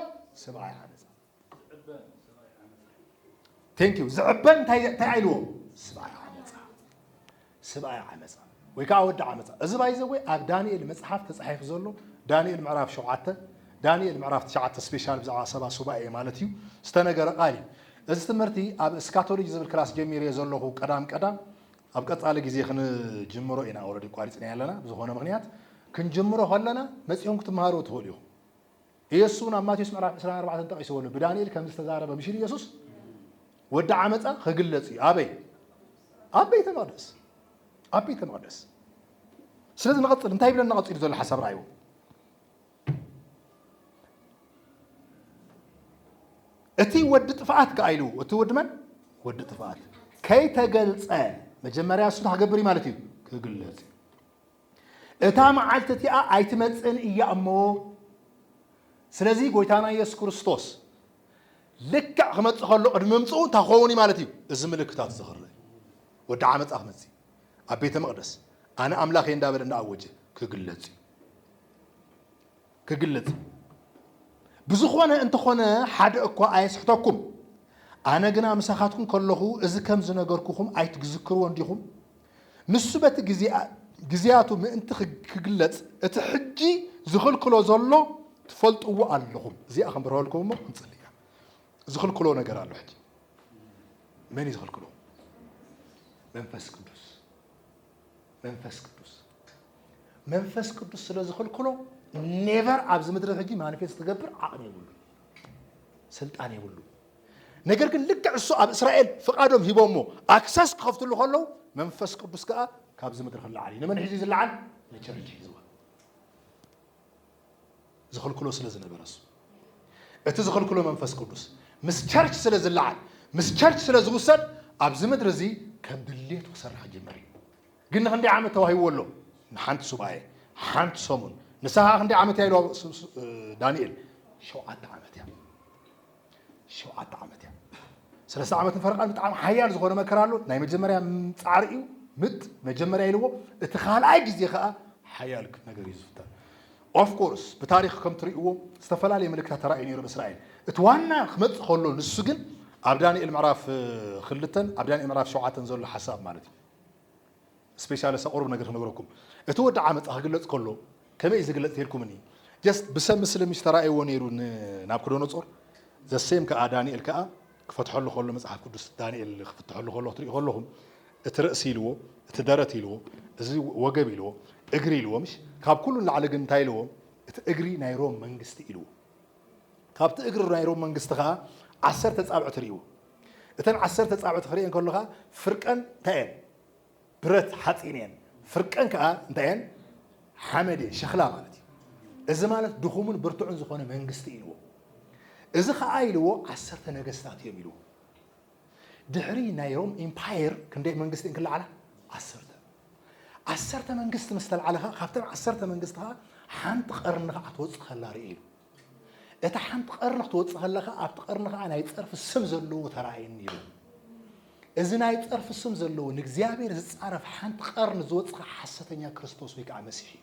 ሰብኣይ ዓመፃ Thank you ዝዕበ እንታይ እንታይ ኣይልዎ ስብኣይ ዓመፃ ስብኣይ ዓመፃ ወይ ከዓ ወዲ ዓመፃ እዚ ባይዘወይ ኣብ ዳንኤል መፅሓፍ ተፃሒፉ ዘሎ ዳንኤል ምዕራፍ ሸውዓተ ዳንኤል ምዕራፍ ትሽዓተ ስፔሻል ብዛዕባ ሰባ ሱባኤ ማለት እዩ ዝተነገረ ቃል እዩ እዚ ትምህርቲ ኣብ እስካቶሎጂ ዝብል ክላስ ጀሚር እየ ዘለኹ ቀዳም ቀዳም ኣብ ቀፃሊ ግዜ ክንጅምሮ ኢና ወረዲ ቋሪፅና ኣለና ብዝኾነ ምክንያት ክንጅምሮ ከለና መፂኹም ክትምሃሩ ትኽእሉ ኢኹም ኢየሱስ እውን ኣብ ማቴዎስ ምዕራፍ ዕስራን ኣርባዕተን ጠቒስዎ ኣሎ። ብዳንኤል ከም ዝተዛረበ ምሽር ኢየሱስ ወዲ ዓመፃ ክግለፅ እዩ። ኣበይ? ኣብ ቤተ መቕደስ ኣብ ቤተ መቕደስ። ስለዚ ንቐፅል እንታይ ይብለና ቀፂሉ ዘሎ ሓሳብ ረኣይዎ። እቲ ወዲ ጥፍኣት ከዓ ኢሉ እቲ ወዲ መን? ወዲ ጥፍኣት ከይተገልፀ መጀመርያ እሱ ክገብር እዩ ማለት እዩ ክግለፅ እዩ። እታ መዓልቲ እቲኣ ኣይትመጽእን እያ እሞ፣ ስለዚ ጎይታና ኢየሱስ ክርስቶስ ልክዕ ክመጽእ ከሎ ቅድሚ ምምጽኡ እንታይ ክኸውን እዩ ማለት እዩ? እዚ ምልክታት እዚ ክርእ እዩ። ወዲ ዓመጻ ክመጽእ እዩ። ኣብ ቤተ መቕደስ ኣነ ኣምላኽ እየ እንዳበለ እንዳኣወጀ ክግለጽ እዩ። ክግለጽ እዩ። ብዝኾነ እንተኾነ ሓደ እኳ ኣየስሕተኩም፣ ኣነ ግና ምሳኻትኩም ከለኹ እዚ ከም ዝነገርኩኹም ኣይትዝክርዎን ዲኹም? ንሱ በቲ ግዜኣቱ ምእንቲ ክግለጽ እቲ ሕጂ ዝኽልክሎ ዘሎ ትፈልጥዎ ኣለኹም እዚኣ ክንብርሀልኩም እሞ ክንጽሊ ኢና ዝኽልክሎ ነገር ኣሎ ሕጂ መን እዩ ዝኽልክሎ መንፈስ ቅዱስ መንፈስ ቅዱስ መንፈስ ቅዱስ ስለ ዝኽልክሎ ኔቨር ኣብዚ ምድሪ ሕጂ ማኒፌስት ክገብር ዓቕሚ የብሉ ስልጣን የብሉ ነገር ግን ልክዕ እሱ ኣብ እስራኤል ፍቃዶም ሂቦሞ ኣክሰስ ክኸፍትሉ ከለዉ መንፈስ ቅዱስ ከኣ ካብዚ ምድሪ ክለዓል እዩ ንመን ሒዙ ዝለዓል ንቸርች ሒዝዋ ዝኽልክሎ ስለ ዝነበረ እሱ እቲ ዝኽልክሎ መንፈስ ቅዱስ ምስ ቸርች ስለ ዝለዓል ምስ ቸርች ስለ ዝውሰድ ኣብዚ ምድሪ እዚ ከም ድሌቱ ክሰርሕ ክጅምር እዩ ግን ንክንደይ ዓመት ተዋሂብዎ ኣሎ ንሓንቲ ሱባኤ ሓንቲ ሰሙን ንሳ ከዓ ክንደይ ዓመት እያ ኢልዋ ዳንኤል ሸውዓተ ዓመት እያ ሸውዓተ ዓመት እያ። ሰለስተ ዓመት ንፈረቓን ብጣዕሚ ሓያል ዝኾነ መከራ ኣሎ። ናይ መጀመርያ ጻዕሪ እዩ፣ ምት መጀመርያ ኢልዎ፣ እቲ ካልኣይ ግዜ ከኣ ሓያል ነገር እዩ ዝፍጠር። ኦፍ ኮርስ ብታሪኽ ከም ትርእይዎ ዝተፈላለየ ምልክታት ተራእዩ ነይሩ ኣብ እስራኤል። እቲ ዋና ክመጽእ ከሎ ንሱ ግን ኣብ ዳንኤል ምዕራፍ ክልተን ኣብ ዳንኤል ምዕራፍ ሸውዓተን ዘሎ ሓሳብ ማለት እዩ። ስፔሻሊ እስከ ቁሩብ ነገር ክነግረኩም እቲ ወዲ ዓመጻ ክግለጽ ከሎ ከመይ እዩ ዝግለጽ ተልኩምኒ ጀስት ብሰብ ምስሊ ምሽ ተራእይዎ ነይሩ ንናብኩዶኖጾር ዘሴም ከኣ ዳንኤል ከኣ ክፈትሐሉ ከሎ መጽሓፍ ቅዱስ ዳንኤል ክፍትሐሉ ከሎ ክትሪኡ ከለኹም እቲ ርእሲ ኢልዎ እቲ ደረት ኢልዎ እዚ ወገብ ኢልዎ እግሪ ኢልዎ ምሽ ካብ ኩሉ ንላዕሊ ግን እንታይ ኢልዎ እቲ እግሪ ናይ ሮም መንግስቲ ኢልዎ ካብቲ እግሪ ናይ ሮም መንግስቲ ከኣ ዓሰርተ ኣጻብዕቲ ርእዩ። እተን ዓሰርተ ኣጻብዕቲ ክርእየን ከሎ ከኣ ፍርቀን እንታይ እየን? ብረት፣ ሓጺን፣ እየን። ፍርቀን ከኣ እንታይ እየን? ሓመድ እየን፣ ሸኽላ ማለት እዩ። እዚ ማለት ድኹምን ብርቱዕን ዝኾነ መንግስቲ እዩ ኢልዎ። እዚ ከኣ ኢልዎ ዓሰርተ ነገስታት እዮም ኢልዎ። ድሕሪ ናይ ሮም ኢምፓየር ክንደይ መንግስቲ እየን ክለዓላ? ዓሰርተ። ዓሰርተ መንግስቲ ምስ ተልዓለ ከኣ ካብተን ዓሰርተ መንግስቲ ከኣ ሓንቲ ቀርኒ ከኣ ክትወጽእ ከላ ርእየ ኢሉ። እታ ሓንቲ ቀርኒ ክትወጽእ ከላ ከኣ ኣብቲ ቀርኒ ከኣ ናይ ጸርፊ ስም ዘለዎ ተራእየኒ ኢሉ። እዚ ናይ ጸርፊ ስም ዘለዎ ንእግዚኣብሔር ዝጻረፍ ሓንቲ ቀርኒ ዝወጽእ ከኣ ሓሰተኛ ክርስቶስ ወይ ከኣ መሲሕ እዩ።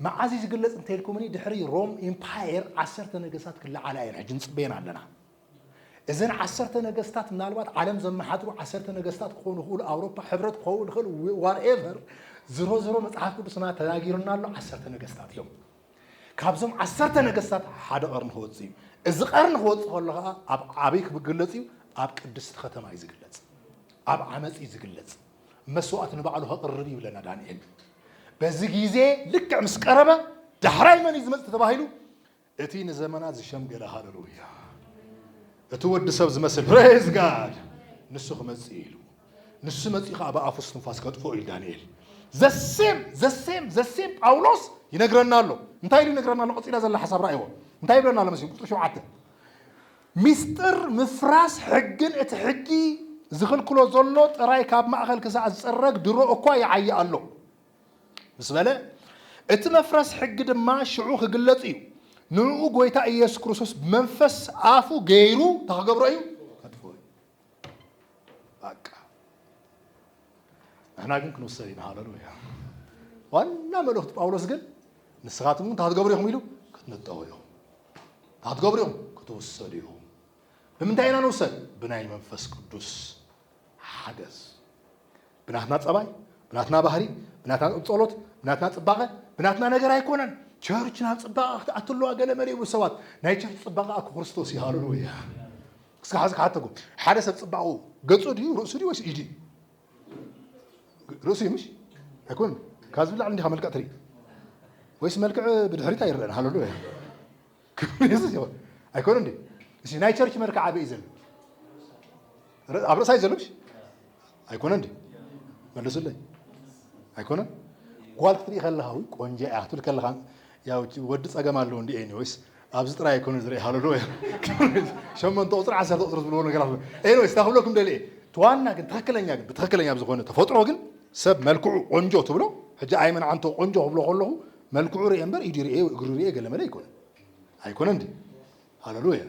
መዓዝ እዩ ዝግለጽ እንተኢልኩምኒ ድሕሪ ሮም ኢምፓየር ዓሰርተ ነገስታት ክለዓላ እየን ሕጂ ንጽበየን ኣለና። እዘን ዓሰርተ ነገስታት ምናልባት ዓለም ዘመሓድሩ ዓሰርተ ነገስታት ክኾኑ ይኽእሉ፣ ኣውሮፓ ሕብረት ክኸውን ይኽእል፣ ዋትኤቨር ዝሮ ዝሮ መጽሓፍ ቅዱስና ተናጊሩና ኣሎ ዓሰርተ ነገስታት እዮም። ካብዞም ዓሰርተ ነገስታት ሓደ ቀርኒ ክወጽእ እዩ። እዚ ቀርኒ ክወጽእ ከሎ ከዓ ኣብ ዓበይ ክግለጽ እዩ? ኣብ ቅድስቲ ከተማ እዩ ዝግለጽ። ኣብ ዓመፅ እዩ ዝግለጽ። መስዋዕት ንባዕሉ ከቅርብ እዩ ይብለና ዳንኤል። በዚ ግዜ ልክዕ ምስ ቀረበ ዳሕራይ መን እዩ ዝመጽእ ተባሂሉ እቲ ንዘመናት ዝሸምገለ ሃለሉያ እቲ ወዲ ሰብ ዝመስል ፕሬዝ ጋድ ንሱ ክመጽእ ኢሉ ንሱ መጽኡ ከዓ ብኣፉ ስትንፋስ ከጥፍኦ ኢሉ ዳንኤል ዘሴም ዘሴም ዘሴም ጳውሎስ ይነግረና ኣሎ እንታይ ኢሉ ይነግረና ኣሎ ቀፂላ ዘላ ሓሳብ ራእይዎ እንታይ ይብለና ኣሎ መሲም ቁፅሪ ሸውዓተ ሚስጥር ምፍራስ ሕግን እቲ ሕጊ ዝኽልክሎ ዘሎ ጥራይ ካብ ማእኸል ክሳዕ ዝፅረግ ድሮ እኳ ይዓይ ኣሎ ምስ በለ፣ እቲ መፍረስ ሕጊ ድማ ሽዑ ክግለጽ እዩ፣ ንእኡ ጎይታ ኢየሱስ ክርስቶስ ብመንፈስ ኣፉ ገይሩ እንታይ ክገብሮ እዩ? ከጥፍኦ እዩ። በቃ ንሕና ግን ክንውሰድ ኢና። ሃለሉያ። ዋና መልእኽቲ ጳውሎስ ግን ንስኻትኩም እንታይ ክትገብሩ ኢኹም ኢሉ ክትነጠቑ ኢኹም፣ እንታይ ክትገብሩ ኢኹም ክትውሰዱ ኢኹም። ብምንታይ ኢና ንውሰድ? ብናይ መንፈስ ቅዱስ ሓገዝ ብናትና ጸባይ፣ ብናትና ባህሪ፣ ብናትና ጸሎት፣ ብናትና ጽባቐ፣ ብናትና ነገር ኣይኮነን። ቸርችና ጽባቐ ክትኣቲ ኣለዋ ገለ መለ ይብሉ ሰባት። ናይ ቸርች ጽባቐ ኣኩ ክርስቶስ እዩ። ሃለሉያ። እስካ ሕዚ ክሓተኩም ሓደ ሰብ ጽባቑ ገጹ ድዩ ርእሱ ድዩ ወይስ ኢዱ? ርእሱ እዩ ምሽ ኣይኮን ካብ ዝብላዕ እንዲኻ መልክዕ ትርኢ ወይስ መልክዕ ብድሕሪት ኣይረአን ሃለሉያ ክብሪ የሱስ ይኹን ኣይኮነን ድዩ እሺ ናይ ቸርች መልክዕ ኣበይ እዩ ዘሎ ር- ኣብ ርእሳ እዩ ዘሎ ምሽ ኣይኮነን ድዩ መልሱለይ ኣይኮነን ጓል ክትርኢ ከለካ ውይ ቆንጆ እያ ክትብል ከለካ ያው እቲ ወዲ ፀገም ኣለዎ እንዲ ኤኒዌይስ ኣብዚ ጥራይ ኣይኮነ ዝርኢ ሃለሎ ሸመንተ ቁፅሪ ዓሰርተ ቁፅሪ ዝብልዎ ነገራት ኣሎ ኤኒዌይስ እንታ ክብለኩም ደሊ እየ እቲ ዋና ግን ትክክለኛ ግን ብትክክለኛ ብዝኾነ ተፈጥሮ ግን ሰብ መልክዑ ቆንጆ ትብሎ ሕጂ ኣይመን ዓንቶ ቆንጆ ክብሎ ከለኹ መልክዑ ርኤ እምበር ኢዱ ርኤ ወይ እግሩ ርኤ ገለመለ ኣይኮነን ኣይኮነን ድዩ ሃለሉያ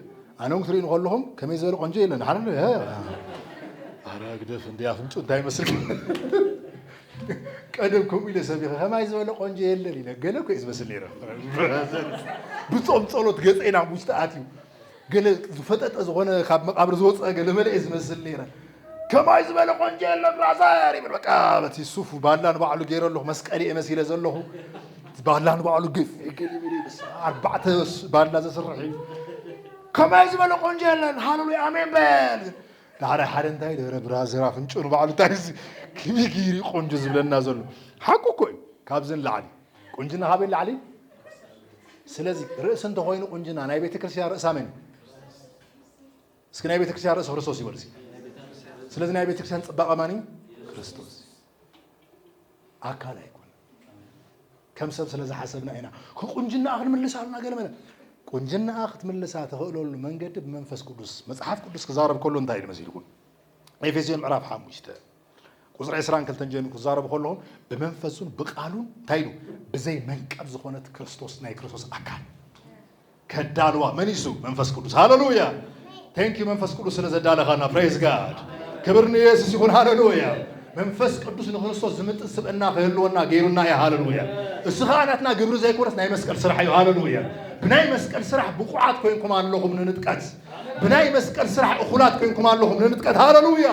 ኣነ እውን ክትርእዩ ከለኹም ከመይ ዝበለ ቆንጆ የለን ሃለሉያ ኣረ ግደፍ እንደ ኣፍንጩ እንታይ ይመስል ቀደም ከምኡ ኢለ ሰቢኸ ከማይ ዝበለ ቆንጆ የለን ኢለ ገለ እኮ እዩ ዝመስል ነይረ ብፆም ፀሎት ገፀ ናብ ውሽጢ ኣትዩ ገለ ዝፈጠጠ ዝኾነ ካብ መቃብር ዝወጸ ገለ መለ እየ ዝመስል ነይረ። ከማይ ዝበለ ቆንጆ የለን ራዛር ይብል በቃ በቲ ሱፍ ባላ ንባዕሉ ገይረ ኣለኹ መስቀል እየ መሲለ ዘለኹ ባላ ንባዕሉ ግፍ ገል ይብል እዩ በስመ ኣብ ኣርባዕተ ስ- ባላ ዘስርሕ እዩ ከማይ ዝበለ ቆንጆ የለን ሃለሉያ ኣሜን በል ግን ዳሕራይ ሓደ እንታይ ደረ ብራዘር ኣፍንጭኡ ንባዕሉ እንታይ እዚ ከመይ ገይሩ እዩ ቆንጆ ዝብለና ዘሎ ሓቁ እኮ እዩ ካብዚ ንላዕሊ ቁንጅና ካበይ ላዕሊ ስለዚ ርእሲ እንተኮይኑ ቁንጅና ናይ ቤተክርስትያን ርእሳ መን እስኪ ናይ ቤተክርስትያን ርእሲ ክርስቶስ ይበሉ ስለዚ ናይ ቤተክርስትያን ፅባቐ ማን እዩ ክርስቶስ ኣካል ኣይኮነ ከም ሰብ ስለ ዝሓሰብና ኢና ቁንጅናኣ ክንምልስ ኣሉና ገለ መለ ቁንጅናኣ ክትምልሳ ተኽእለሉ መንገዲ ብመንፈስ ቅዱስ መፅሓፍ ቅዱስ ክዛረብ ከሎ እንታይ ኢሉ መሲልኩም ኤፌስዮን ምዕራፍ ሓሙሽተ ቁጽሪ ዕስራን ክልተን ጀሚሩ ክዛረቡ ከለኹም ብመንፈሱን ብቃሉን እንታይ ኢሉ ብዘይ መንቀብ ዝኾነት ክርስቶስ ናይ ክርስቶስ ኣካል ከዳልዋ መን እዩ እሱ መንፈስ ቅዱስ ሃለሉያ ቴንክ ዩ መንፈስ ቅዱስ ስለ ዘዳለኻና ፕሬዝ ጋድ ክብር ንየሱስ ይኹን ሃለሉያ መንፈስ ቅዱስ ንክርስቶስ ዝምጥን ስብእና ክህልወና ገይሩና እዩ ሃለሉያ እሱ ከዓ ናትና ግብሪ ዘይኮነስ ናይ መስቀል ስራሕ እዩ ሃለሉያ ብናይ መስቀል ስራሕ ብቑዓት ኮይንኩም ኣለኹም ንንጥቀት ብናይ መስቀል ስራሕ እኹላት ኮይንኩም ኣለኹም ንንጥቀት ሃለሉያ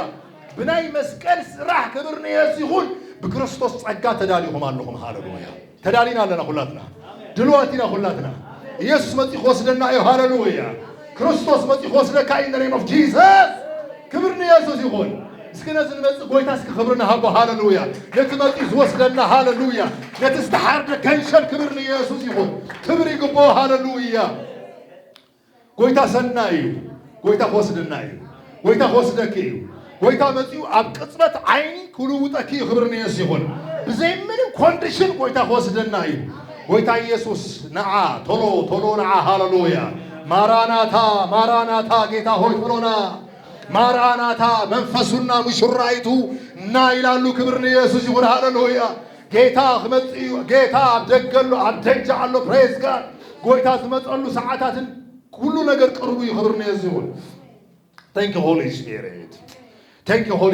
ብናይ መስቀል ስራሕ ክብር ንየሱ ይኹን ብክርስቶስ ጸጋ ተዳሊኹም ኣለኹም ሃለሉያ ተዳሊና ኣለና ኩላትና ድልዋት ኢና ኩላትና ኢየሱስ መጺ ክወስደና እዩ ሃለሉያ ክርስቶስ መጺ ክወስደካ እዩ ነሬም ኦፍ ጂሰስ ክብር ንየሱስ ይኹን እስኪ ነዚ ንመፅእ ጎይታ እስኪ ክብሪ ንሃቦ ሃለሉያ ነቲ መፂ ዝወስደና ሃለሉያ ነቲ ዝተሓርደ ከንሸል ክብሪ ንየሱስ ይኹን ክብሪ ይግብኦ ሃለሉያ ጎይታ ሰናይ እዩ ጎይታ ክወስደና እዩ ጎይታ ክወስደኪ እዩ ጎይታ መጺኡ ኣብ ቅጽበት ዓይኒ ክልውጠኪ እዩ ክብሪ ንየሱስ ይኹን ብዘይ ምንም ኮንዲሽን ጎይታ ክወስደና እዩ ጎይታ ኢየሱስ ንዓ ቶሎ ቶሎ ንዓ ሃሌሉያ ማራናታ ማራናታ ጌታ ሆይ ቶሎና ማራናታ መንፈሱና ሙሽራይቱ እና ይላሉ ክብሪ ንየሱስ ይኹን ሃሌሉያ ጌታ ክመጽእ እዩ ጌታ ኣብ ደገ ኣሎ ኣብ ደጃ ኣሎ ፕሬዝ ጋድ ጎይታ ዝመጸሉ ሰዓታትን ኩሉ ነገር ቅርቡ እዩ ክብር ንየሱ ይኹን ታንክ ሆሊ ስፒሪት ታንክ ሆሊ